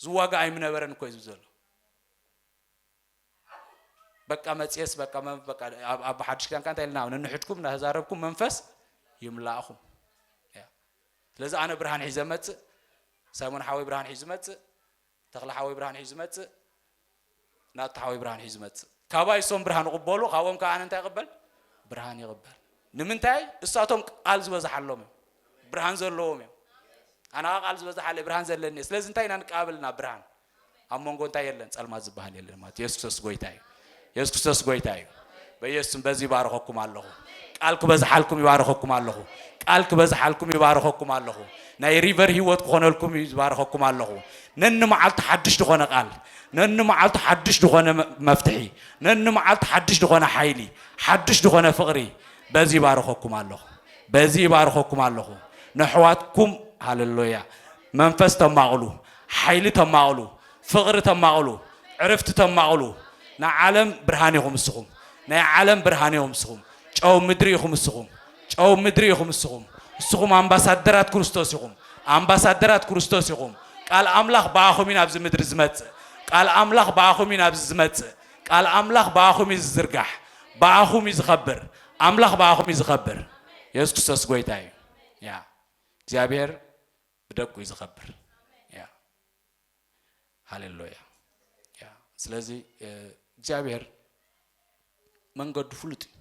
ዝዋጋ ኣይምነበረን እኮ እዩ ዝብል ዘሎ በቃ መጽየስ በቃ በቃ ኣብ ሓድሽ ኪዳን ካንታ ኢልና ንንሕድኩም እናተዛረብኩም መንፈስ ይምላእኹም ስለዚ ኣነ ብርሃን ሒዘ መጽእ ሳይሞን ሓወይ ብርሃን ሒዙ መጽእ ተኽለ ሓወይ ብርሃን ሒዙ ዝመጽእ ናቱ ሓወይ ብርሃን ሒዙ ዝመጽእ ካባይ እሶም ብርሃን ይቕበሉ ካብኦም ከዓ ኣነ እንታይ ይቕበል ብርሃን ይቕበል ንምንታይ እሳቶም ቃል ዝበዝሓሎም እዮም ብርሃን ዘለዎም እዮም ኣነ ከዓ ቃል ዝበዝሓለ ብርሃን ዘለኒ እየ ስለዚ እንታይ ኢና ንቀባበልና ብርሃን ኣብ መንጎ እንታይ የለን ጸልማት ዝበሃል የለን ማለት ኢየሱስ ክርስቶስ ጎይታ እዩ የሱስ ክርስቶስ ጎይታ እዩ። በየሱስም በዚ ይባርኸኩም ኣለኹ። ቃል ክበዝሓልኩም ይባርኸኩም ኣለኹ። ቃል ክበዝሓልኩም ይባርኸኩም ኣለኹ። ናይ ሪቨር ህይወት ክኾነልኩም ይባርኸኩም ኣለኹ። ነኒ መዓልቱ ሓድሽ ዝኾነ ቃል፣ ነኒ መዓልቱ ሓድሽ ዝኾነ መፍትሒ፣ ነኒ መዓልቱ ሓድሽ ዝኾነ ሓይሊ፣ ሓድሽ ዝኾነ ፍቕሪ በዚ ይባርኸኩም ኣለኹ። በዚ ይባርኸኩም ኣለኹ። ነሕዋትኩም ሃለሎያ መንፈስ ተማቕሉ፣ ሓይሊ ተማቕሉ ፍቕሪ ተማቕሉ ዕርፍቲ ተማቕሉ ናይ ዓለም ብርሃን ኢኹም እስኹም ናይ ዓለም ብርሃን ኢኹም እስኹም ጨው ምድሪ ኢኹም እስኹም ጨው ምድሪ ኢኹም እስኹም እስኹም ኣምባሳደራት ክርስቶስ ኢኹም ኣምባሳደራት ክርስቶስ ኢኹም ቃል ኣምላኽ ብኣኹም እዩ ናብዚ ምድሪ ዝመጽእ ቃል ኣምላኽ ብኣኹም እዩ ናብዚ ዝመጽእ ቃል ኣምላኽ ብኣኹም እዩ ዝዝርጋሕ ብኣኹም እዩ ዝኸብር ኣምላኽ ብኣኹም እዩ ዝኸብር የሱስ ክርስቶስ ጎይታ እዩ ያ እግዚኣብሔር ብደቁ እዩ ዝኸብር ሃሌሉያ ያ ስለዚ እግዚኣብሔር መንገዱ ፍሉጥ እዩ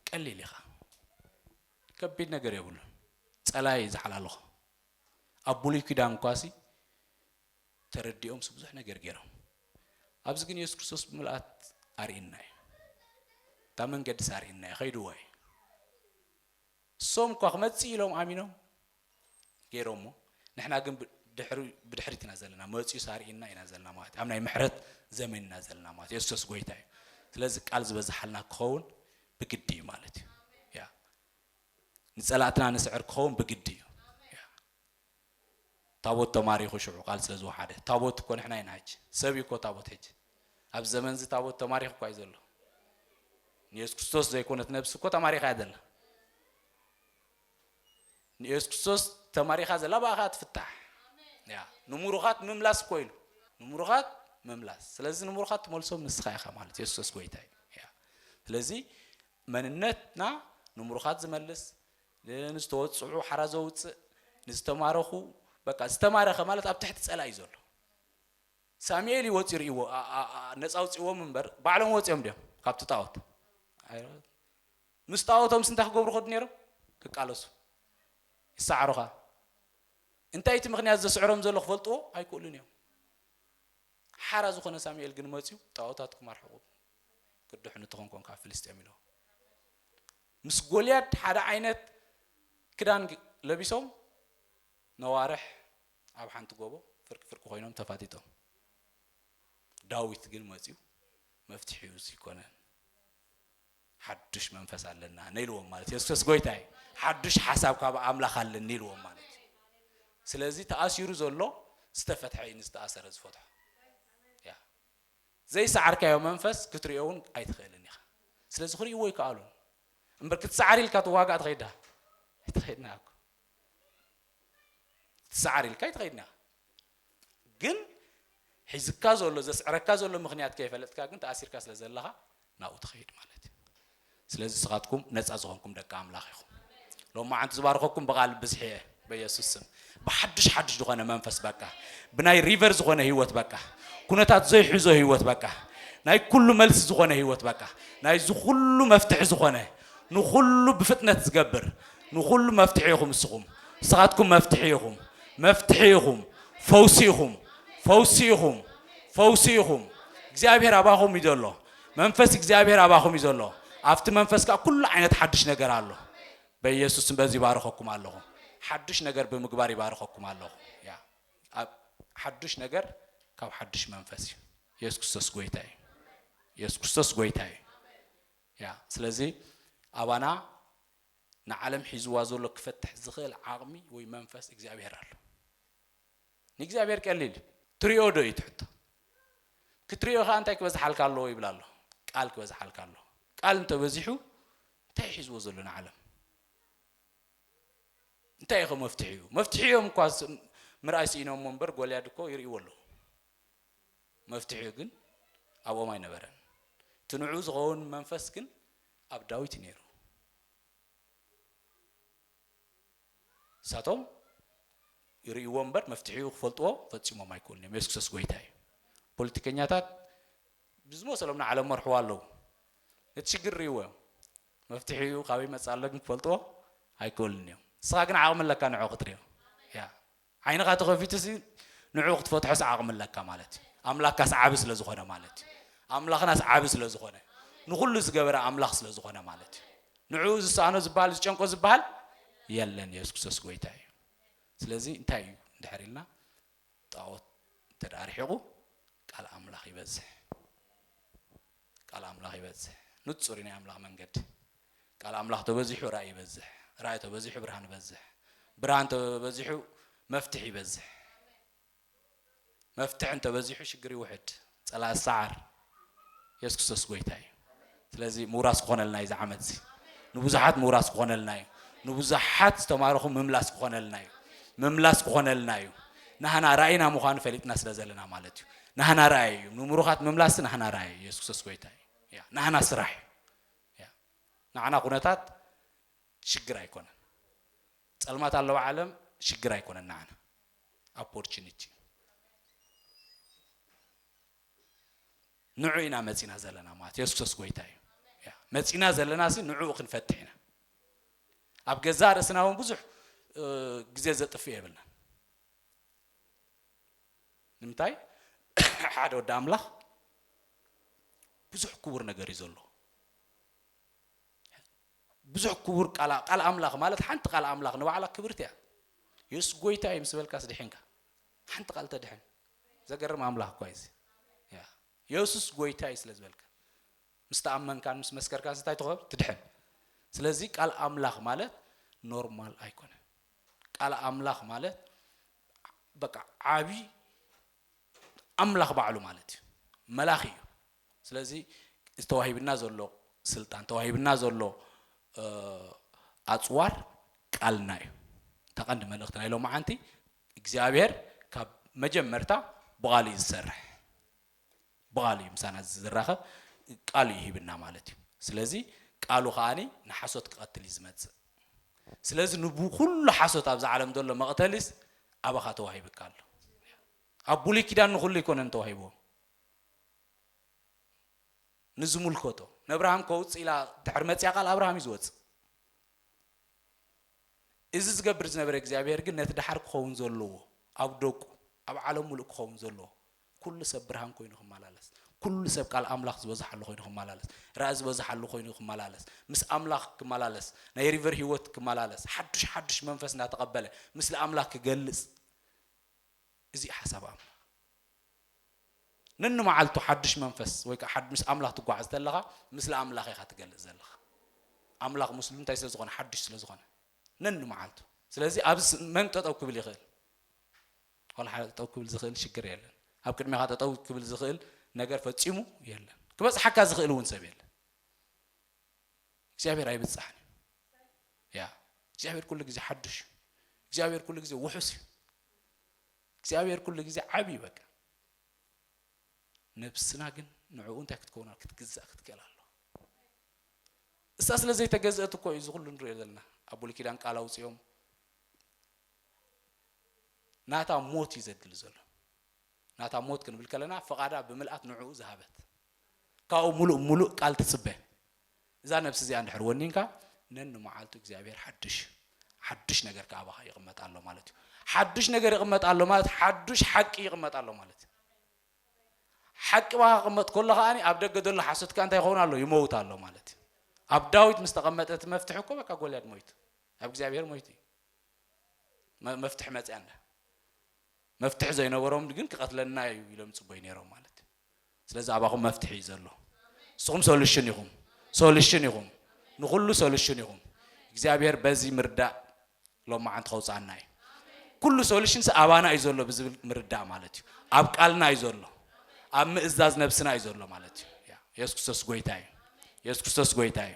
ቀሊል ኢኻ ከቢድ ነገር የብሉን ጸላይ እዩ ዝሓላለኹ ኣብ ብሉይ ኪዳን ኳሲ ተረዲኦምስ ብዙሕ ነገር ገይሮም ኣብዚ ግን የሱስ ክርስቶስ ብምልኣት ኣርእና እዩ እታ መንገዲስ ኣርእና እዩ ከይድዎ እዩ እሶም እኳ ክመፅእ ኢሎም ኣሚኖም ጌሮሞ ንሕና ግን ድሕሪ ብድሕሪት ኢና ዘለና መጽዩ ሳርኢና ኢና ዘለና ማለት ኣብ ናይ ምሕረት ዘመን ኢና ዘለና ማለት የሱስ ጎይታ እዩ ስለዚ ቃል ዝበዝሓልና ክኸውን ብግዲ እዩ ማለት እዩ ያ ንጸላእትና ንስዕር ክኸውን ብግዲ እዩ ታቦት ተማሪኹ ሽዑ ቃል ስለ ዝወሓደ ታቦት እኮ ንሕና ኢና ሕጂ ሰብ እዩ እኮ ታቦት ሕጂ ኣብ ዘመን እዚ ታቦት ተማሪኹ እኳ እዩ ዘሎ ንየሱስ ክርስቶስ ዘይኮነት ነብሲ እኮ ተማሪኻ እያ ዘላ ንየሱስ ክርስቶስ ተማሪኻ ዘላ ብኣ ከዓ ትፍታሕ ያ ንምሩኻት ምምላስ እኮ ኢሉ ንምሩኻት ምምላስ ስለዚ ንምሩኻት ትመልሶም ንስኻ ኢኻ ማለት የሱስ ክርስቶስ ጎይታ እዩ ያ ስለዚ መንነትና ንምሩኻት ዝመልስ ንዝተወፅዑ ሓራ ዘውፅእ ንዝተማረኹ በቃ ዝተማረኸ ማለት ኣብ ትሕቲ ፀላ እዩ ዘሎ ሳሙኤል እዩ ወፂኡ ርእይዎ ነፃ ውፅእዎም እምበር ባዕሎም ወፂኦም ድዮም ካብቲ ጣዖት ምስ ጣኦቶምስ እንታይ ክገብሩ ይኸዱ ኔሮም? ክቃለሱ። ይሰዓሩኻ። እንታይ እቲ ምኽንያት ዘስዕሮም ዘሎ ክፈልጥዎ ኣይክእሉን እዮም። ሓራ ዝኾነ ሳሙኤል ግን መጽዩ ጣኦታትኩም ኣርሕቑ ክድሕኑ ተኾንኮን ካብ ፍልስጤም ኢሎ ምስ ጎልያድ ሓደ ዓይነት ክዳን ለቢሶም ነዋርሕ ኣብ ሓንቲ ጎቦ ፍርቂ ፍርቂ ኮይኖም ተፋጢጦም ዳዊት ግን መፅኡ መፍትሒኡ ዘይኮነን ሓዱሽ መንፈስ ኣለና ነኢልዎም ማለት የሱስ ጎይታ እዩ ሓዱሽ ሓሳብ ካብ ኣምላኽ ኣለኒ ኢልዎም ማለት እዩ ስለዚ ተኣሲሩ ዘሎ ዝተፈትሐ እዩ ንዝተኣሰረ ዝፈትሖ ያ ዘይሰዓርካዮ መንፈስ ክትሪኦ እውን ኣይትኽእልን ኢኻ ስለዚ ክርእይዎ ይከኣሉን እምበር ክትሰዓር ኢልካ ትዋጋእ ትኸይዳ ኣይትኸይድና እኮ ክትሰዓር ኢልካ ኣይትኸይድና ግን ሒዝካ ዘሎ ዘስዕረካ ዘሎ ምኽንያት ከይፈለጥካ ግን ተኣሲርካ ስለ ዘለኻ ናብኡ ትኸይድ ማለት እዩ ስለዚ ስኻትኩም ነፃ ዝኾንኩም ደቂ ኣምላኽ ኢኹም ሎማዓንቲ ዝባርኸኩም ብቓል ብዝሒ እየ በየሱስ ስም ብሓድሽ ሓድሽ ዝኾነ መንፈስ በቃ ብናይ ሪቨር ዝኾነ ህይወት በቃ ኩነታት ዘይሕዞ ህይወት በቃ ናይ ኩሉ መልሲ ዝኾነ ህይወት በቃ ናይዚ ኩሉ መፍትሒ ዝኾነ ንኹሉ ብፍጥነት ዝገብር ንኹሉ መፍትሒ ኢኹም እስኹም ንስኻትኩም መፍትሒ ኢኹም መፍትሒ ኢኹም ፈውሲ ኢኹም ፈውሲ ኢኹም ፈውሲ ኢኹም እግዚኣብሔር ኣባኹም እዩ ዘሎ መንፈስ እግዚኣብሔር ኣባኹም እዩ ዘሎ ኣብቲ መንፈስ ከዓ ኩሉ ዓይነት ሓድሽ ነገር ኣሎ በኢየሱስም በዚ ይባርኸኩም ኣለኹ ሓድሽ ነገር ብምግባር ይባርኸኩም ኣለኹ ያ ሓድሽ ነገር ካብ ሓድሽ መንፈስ እዩ ኢየሱስ ክርስቶስ ጎይታ እዩ ኢየሱስ ክርስቶስ ጎይታ እዩ እያ። ስለዚ ኣባና ንዓለም ሒዝዋ ዘሎ ክፈትሕ ዝኽእል ዓቕሚ ወይ መንፈስ እግዚኣብሄር ኣሎ። ንእግዚኣብሄር ቀሊል እዩ። ትሪኦ ዶ እዩ እቲ ሕቶ? ክትሪኦ ከኣ እንታይ ክበዝሓልካ ኣለዎ ይብል ኣሎ? ቃል ክበዝሓልካ ኣለዎ። ቃል እንተበዚሑ እንታይ እዩ ሒዝዎ ዘሎ ንዓለም? እንታይ እዩ ከ መፍትሒኡ? መፍትሒኦም እኳ ምርኣይ ስኢኖሞ እምበር ጎልያድ እኮ ይርእይዎ ኣለዉ። መፍትሒኡ ግን ኣብኦም ኣይነበረን። እቲ ንዕኡ ዝኸውን መንፈስ ግን ኣብ ዳዊት እዩ ነይሩ። ንሳቶም ይርእይዎ እምበር መፍትሒኡ ክፈልጥዎ ፈጺሞም ኣይክእሉን እዮም። የሱስ ክርስቶስ ጎይታ እዩ። ፖለቲከኛታት ብዝመሰሎም ንዓለም መርሕዋ ኣለዉ። ነቲ ሽግር ርእይዎ እዮም። መፍትሒኡ ካበይ መጽእ ኣሎ ግን ክፈልጥዎ ኣይክእሉን እዮም። ንስኻ ግን ዓቕሚ ኣለካ ንዕኡ ክትርእዮ። ያ ዓይንኻ ተኸፊቱሲ ንዕኡ ክትፈትሖስ ዓቕሚ ኣለካ ማለት እዩ። ኣምላካስ ዓቢ ስለ ዝኾነ ማለት እዩ። ኣምላኽናስ ዓቢ ስለ ዝኾነ ንኹሉ ዝገበረ ኣምላኽ ስለ ዝኾነ ማለት እዩ። ንዕኡ ዝሰኣኖ ዝበሃል ዝጨንቆ ዝበሃል የለን። የሱስ ክርስቶስ ጎይታ እዩ። ስለዚ እንታይ እዩ እንድሕር ኢልና ጣዖት እንተ ርሒቑ ቃል ኣምላኽ ይበዝሕ። ቃል ኣምላኽ ይበዝሕ ንጹር እዩ ናይ ኣምላኽ መንገዲ ቃል ኣምላኽ ተበዚሑ ራእይ ይበዝሕ ራእይ ተበዚሑ ብርሃን ይበዝሕ ብርሃን ተበዚሑ መፍትሕ ይበዝሕ መፍትሕ እንተበዚሑ ሽግር ይውሕድ ጸላእ ሰዓር የሱስ ክርስቶስ ጎይታ እዩ ስለዚ ምውራስ ክኾነልና እዩ ዝዓመት እዚ ንብዙሓት ምውራስ ክኾነልና እዩ ንብዙሓት ዝተማረኹ ምምላስ ክኾነልና እዩ ምምላስ ክኾነልና እዩ ናህና ራእይና ምዃኑ ፈሊጥና ስለ ዘለና ማለት እዩ ናህና ራእይ እዩ ንምሩኻት ምምላስ ናህና ራእይ እዩ የሱስ ክርስቶስ ጎይታ እዩ ያ ናህና ስራሕ እዩ ያ ናዓና ኩነታት ሽግር ኣይኮነን ጸልማት ኣለዋ ዓለም ሽግር ኣይኮነን ናዓና ኦፖርቹኒቲ እዩ ንዑ ኢና መጺና ዘለና ማለት የሱስ ክርስቶስ ጎይታ እዩ ያ መጺና ዘለና ሲ ንዕኡ ክንፈትሕ ኢና ኣብ ገዛ ርእስና እውን ብዙሕ ግዜ ዘጥፍእ የብልናን ንምንታይ ሓደ ወዲ ኣምላኽ ብዙሕ ክቡር ነገር እዩ ዘሎ ብዙሕ ክቡር ቃል ቃል ኣምላኽ ማለት ሓንቲ ቃል ኣምላኽ ንባዕላ ክብርቲ እያ የሱስ ጎይታ እዩ ምስ በልካስ ድሕንካ ሓንቲ ቃል ተድሕን ዘገርም ኣምላኽ እኳ እዚ የሱስ ጎይታ እዩ ስለ ዝበልካ ምስ ተኣመንካን ምስ መስከርካን ስታይ ትኸብ ትድሕን ስለዚ ቃል ኣምላኽ ማለት ኖርማል ኣይኮነን ቃል ኣምላኽ ማለት በቃ ዓቢ ኣምላኽ ባዕሉ ማለት እዩ መላኽ እዩ ስለዚ ዝተዋሂብና ዘሎ ስልጣን ተዋሂብና ዘሎ ኣጽዋር ቃልና እዩ ተቐንዲ መልእኽቲ ናይ ሎማዓንቲ እግዚኣብሔር ካብ መጀመርታ ብቓሉ እዩ ዝሰርሕ ብቓሉ እዩ ምሳና ዝራኸብ ቃሉ እዩ ሂብና ማለት እዩ ስለዚ ቃሉ ከኣ ንሓሶት ክቐትል እዩ ዝመጽእ ስለዚ ንኩሉ ሓሶት ኣብዚ ዓለም ዘሎ መቕተሊስ ኣባኻ ተዋሂብካ ኣሎ ኣብ ብሉይ ኪዳን ንኹሉ ኣይኮነን ተዋሂብዎም ንዝምልከቶ ነብርሃም ከውፅእ ኢላ ድሕሪ መፅያ ቃል ኣብርሃም እዩ ዝወፅእ እዚ ዝገብር ዝነበረ እግዚኣብሄር ግን ነቲ ድሓር ክኸውን ዘለዎ ኣብ ደቁ ኣብ ዓለም ሙሉእ ክኸውን ዘለዎ ኩሉ ሰብ ብርሃን ኮይኑ ክመላለስ፣ ኩሉ ሰብ ቃል ኣምላኽ ዝበዝሓሉ ኮይኑ ክመላለስ፣ ራኢ ዝበዝሓሉ ኮይኑ ክመላለስ፣ ምስ ኣምላኽ ክመላለስ፣ ናይ ሪቨር ህይወት ክመላለስ፣ ሓዱሽ ሓዱሽ መንፈስ እናተቐበለ ምስሊ ኣምላኽ ክገልጽ፣ እዚ እዩ ሓሳብ ኣምላኽ። ነንመዓልቱ ሓዱሽ መንፈስ ወይ ከዓ ምስ ኣምላኽ ትጓዓዝ ተለኻ ምስሊ ኣምላኽ ኢኻ ትገልጽ ዘለኻ። ኣምላኽ ምስሉ እንታይ ስለ ዝኾነ ሓዱሽ ስለ ዝኾነ ነንመዓልቱ። ስለዚ ኣብዚ መን ጠጠው ክብል ይኽእል? ቆልዓ ጠጠው ክብል ዝኽእል ሽግር የለን። ኣብ ቅድሜኻ ጠጠው ክብል ዝኽእል ነገር ፈጺሙ የለን። ክበጽሓካ ዝኽእል እውን ሰብ የለን። እግዚኣብሔር ኣይብጻሕን እዩ። ያ እግዚኣብሔር ኩሉ ግዜ ሓዱሽ እዩ። እግዚኣብሔር ኩሉ ግዜ ውሑስ እዩ። እግዚኣብሔር ኩሉ ግዜ ዓብ እዩ በቃ። ነብስና ግን ንዕኡ እንታይ ክትከውን ክትግዛእ ክትክእል ኣሎ። እሳ ስለ ዘይተገዝአት እኮ እዩ ዝኹሉ ንሪኦ ዘለና ኣብ ብሉይ ኪዳን ቃል ኣውፅኦም ናታ ሞት እዩ ዘድሊ ዘሎ። ናታ ሞት ክንብል ከለና ፍቓዳ ብምልኣት ንዕኡ ዝሃበት ካብኡ ሙሉእ ሙሉእ ቃል ትጽበ እዛ ነብሲ እዚኣ እንድሕር ወኒንካ ነንመዓልቱ እግዚኣብሔር ሓድሽ ሓዱሽ ነገር ከዓ ባኻ ይቕመጥ ኣሎ ማለት እዩ ሓዱሽ ነገር ይቕመጥ ኣሎ ማለት ሓዱሽ ሓቂ ይቕመጥ ኣሎ ማለት እዩ ሓቂ ባኻ ክቕመጥ ከሎ ከዓኒ ኣብ ደገ ዘሎ ሓሶት ከዓ እንታይ ይኸውን ኣሎ ይመውት ኣሎ ማለት እዩ ኣብ ዳዊት ምስ ተቐመጠ እቲ መፍትሒ እኮ በቃ ጎልያድ ሞይቱ ኣብ እግዚኣብሔር ሞይቱ እዩ መፍትሒ መጽያ እንዳ መፍትሒ ዘይነበሮም ግን ክቐትለና እዩ ኢሎም ጽበዩ ነይሮም ማለት እዩ ስለዚ ኣባኹም መፍትሒ እዩ ዘሎ ንስኹም ሶሉሽን ኢኹም ሶሉሽን ኢኹም ንኹሉ ሶሉሽን ኢኹም እግዚኣብሔር በዚ ምርዳእ ሎማዓንቲ ከውፅኣና እዩ ኩሉ ሶሉሽን ኣባና እዩ ዘሎ ብዝብል ምርዳእ ማለት እዩ ኣብ ቃልና እዩ ዘሎ ኣብ ምእዛዝ ነብስና እዩ ዘሎ ማለት እዩ የሱስ ክርስቶስ ጎይታ እዩ የሱስ ክርስቶስ ጎይታ እዩ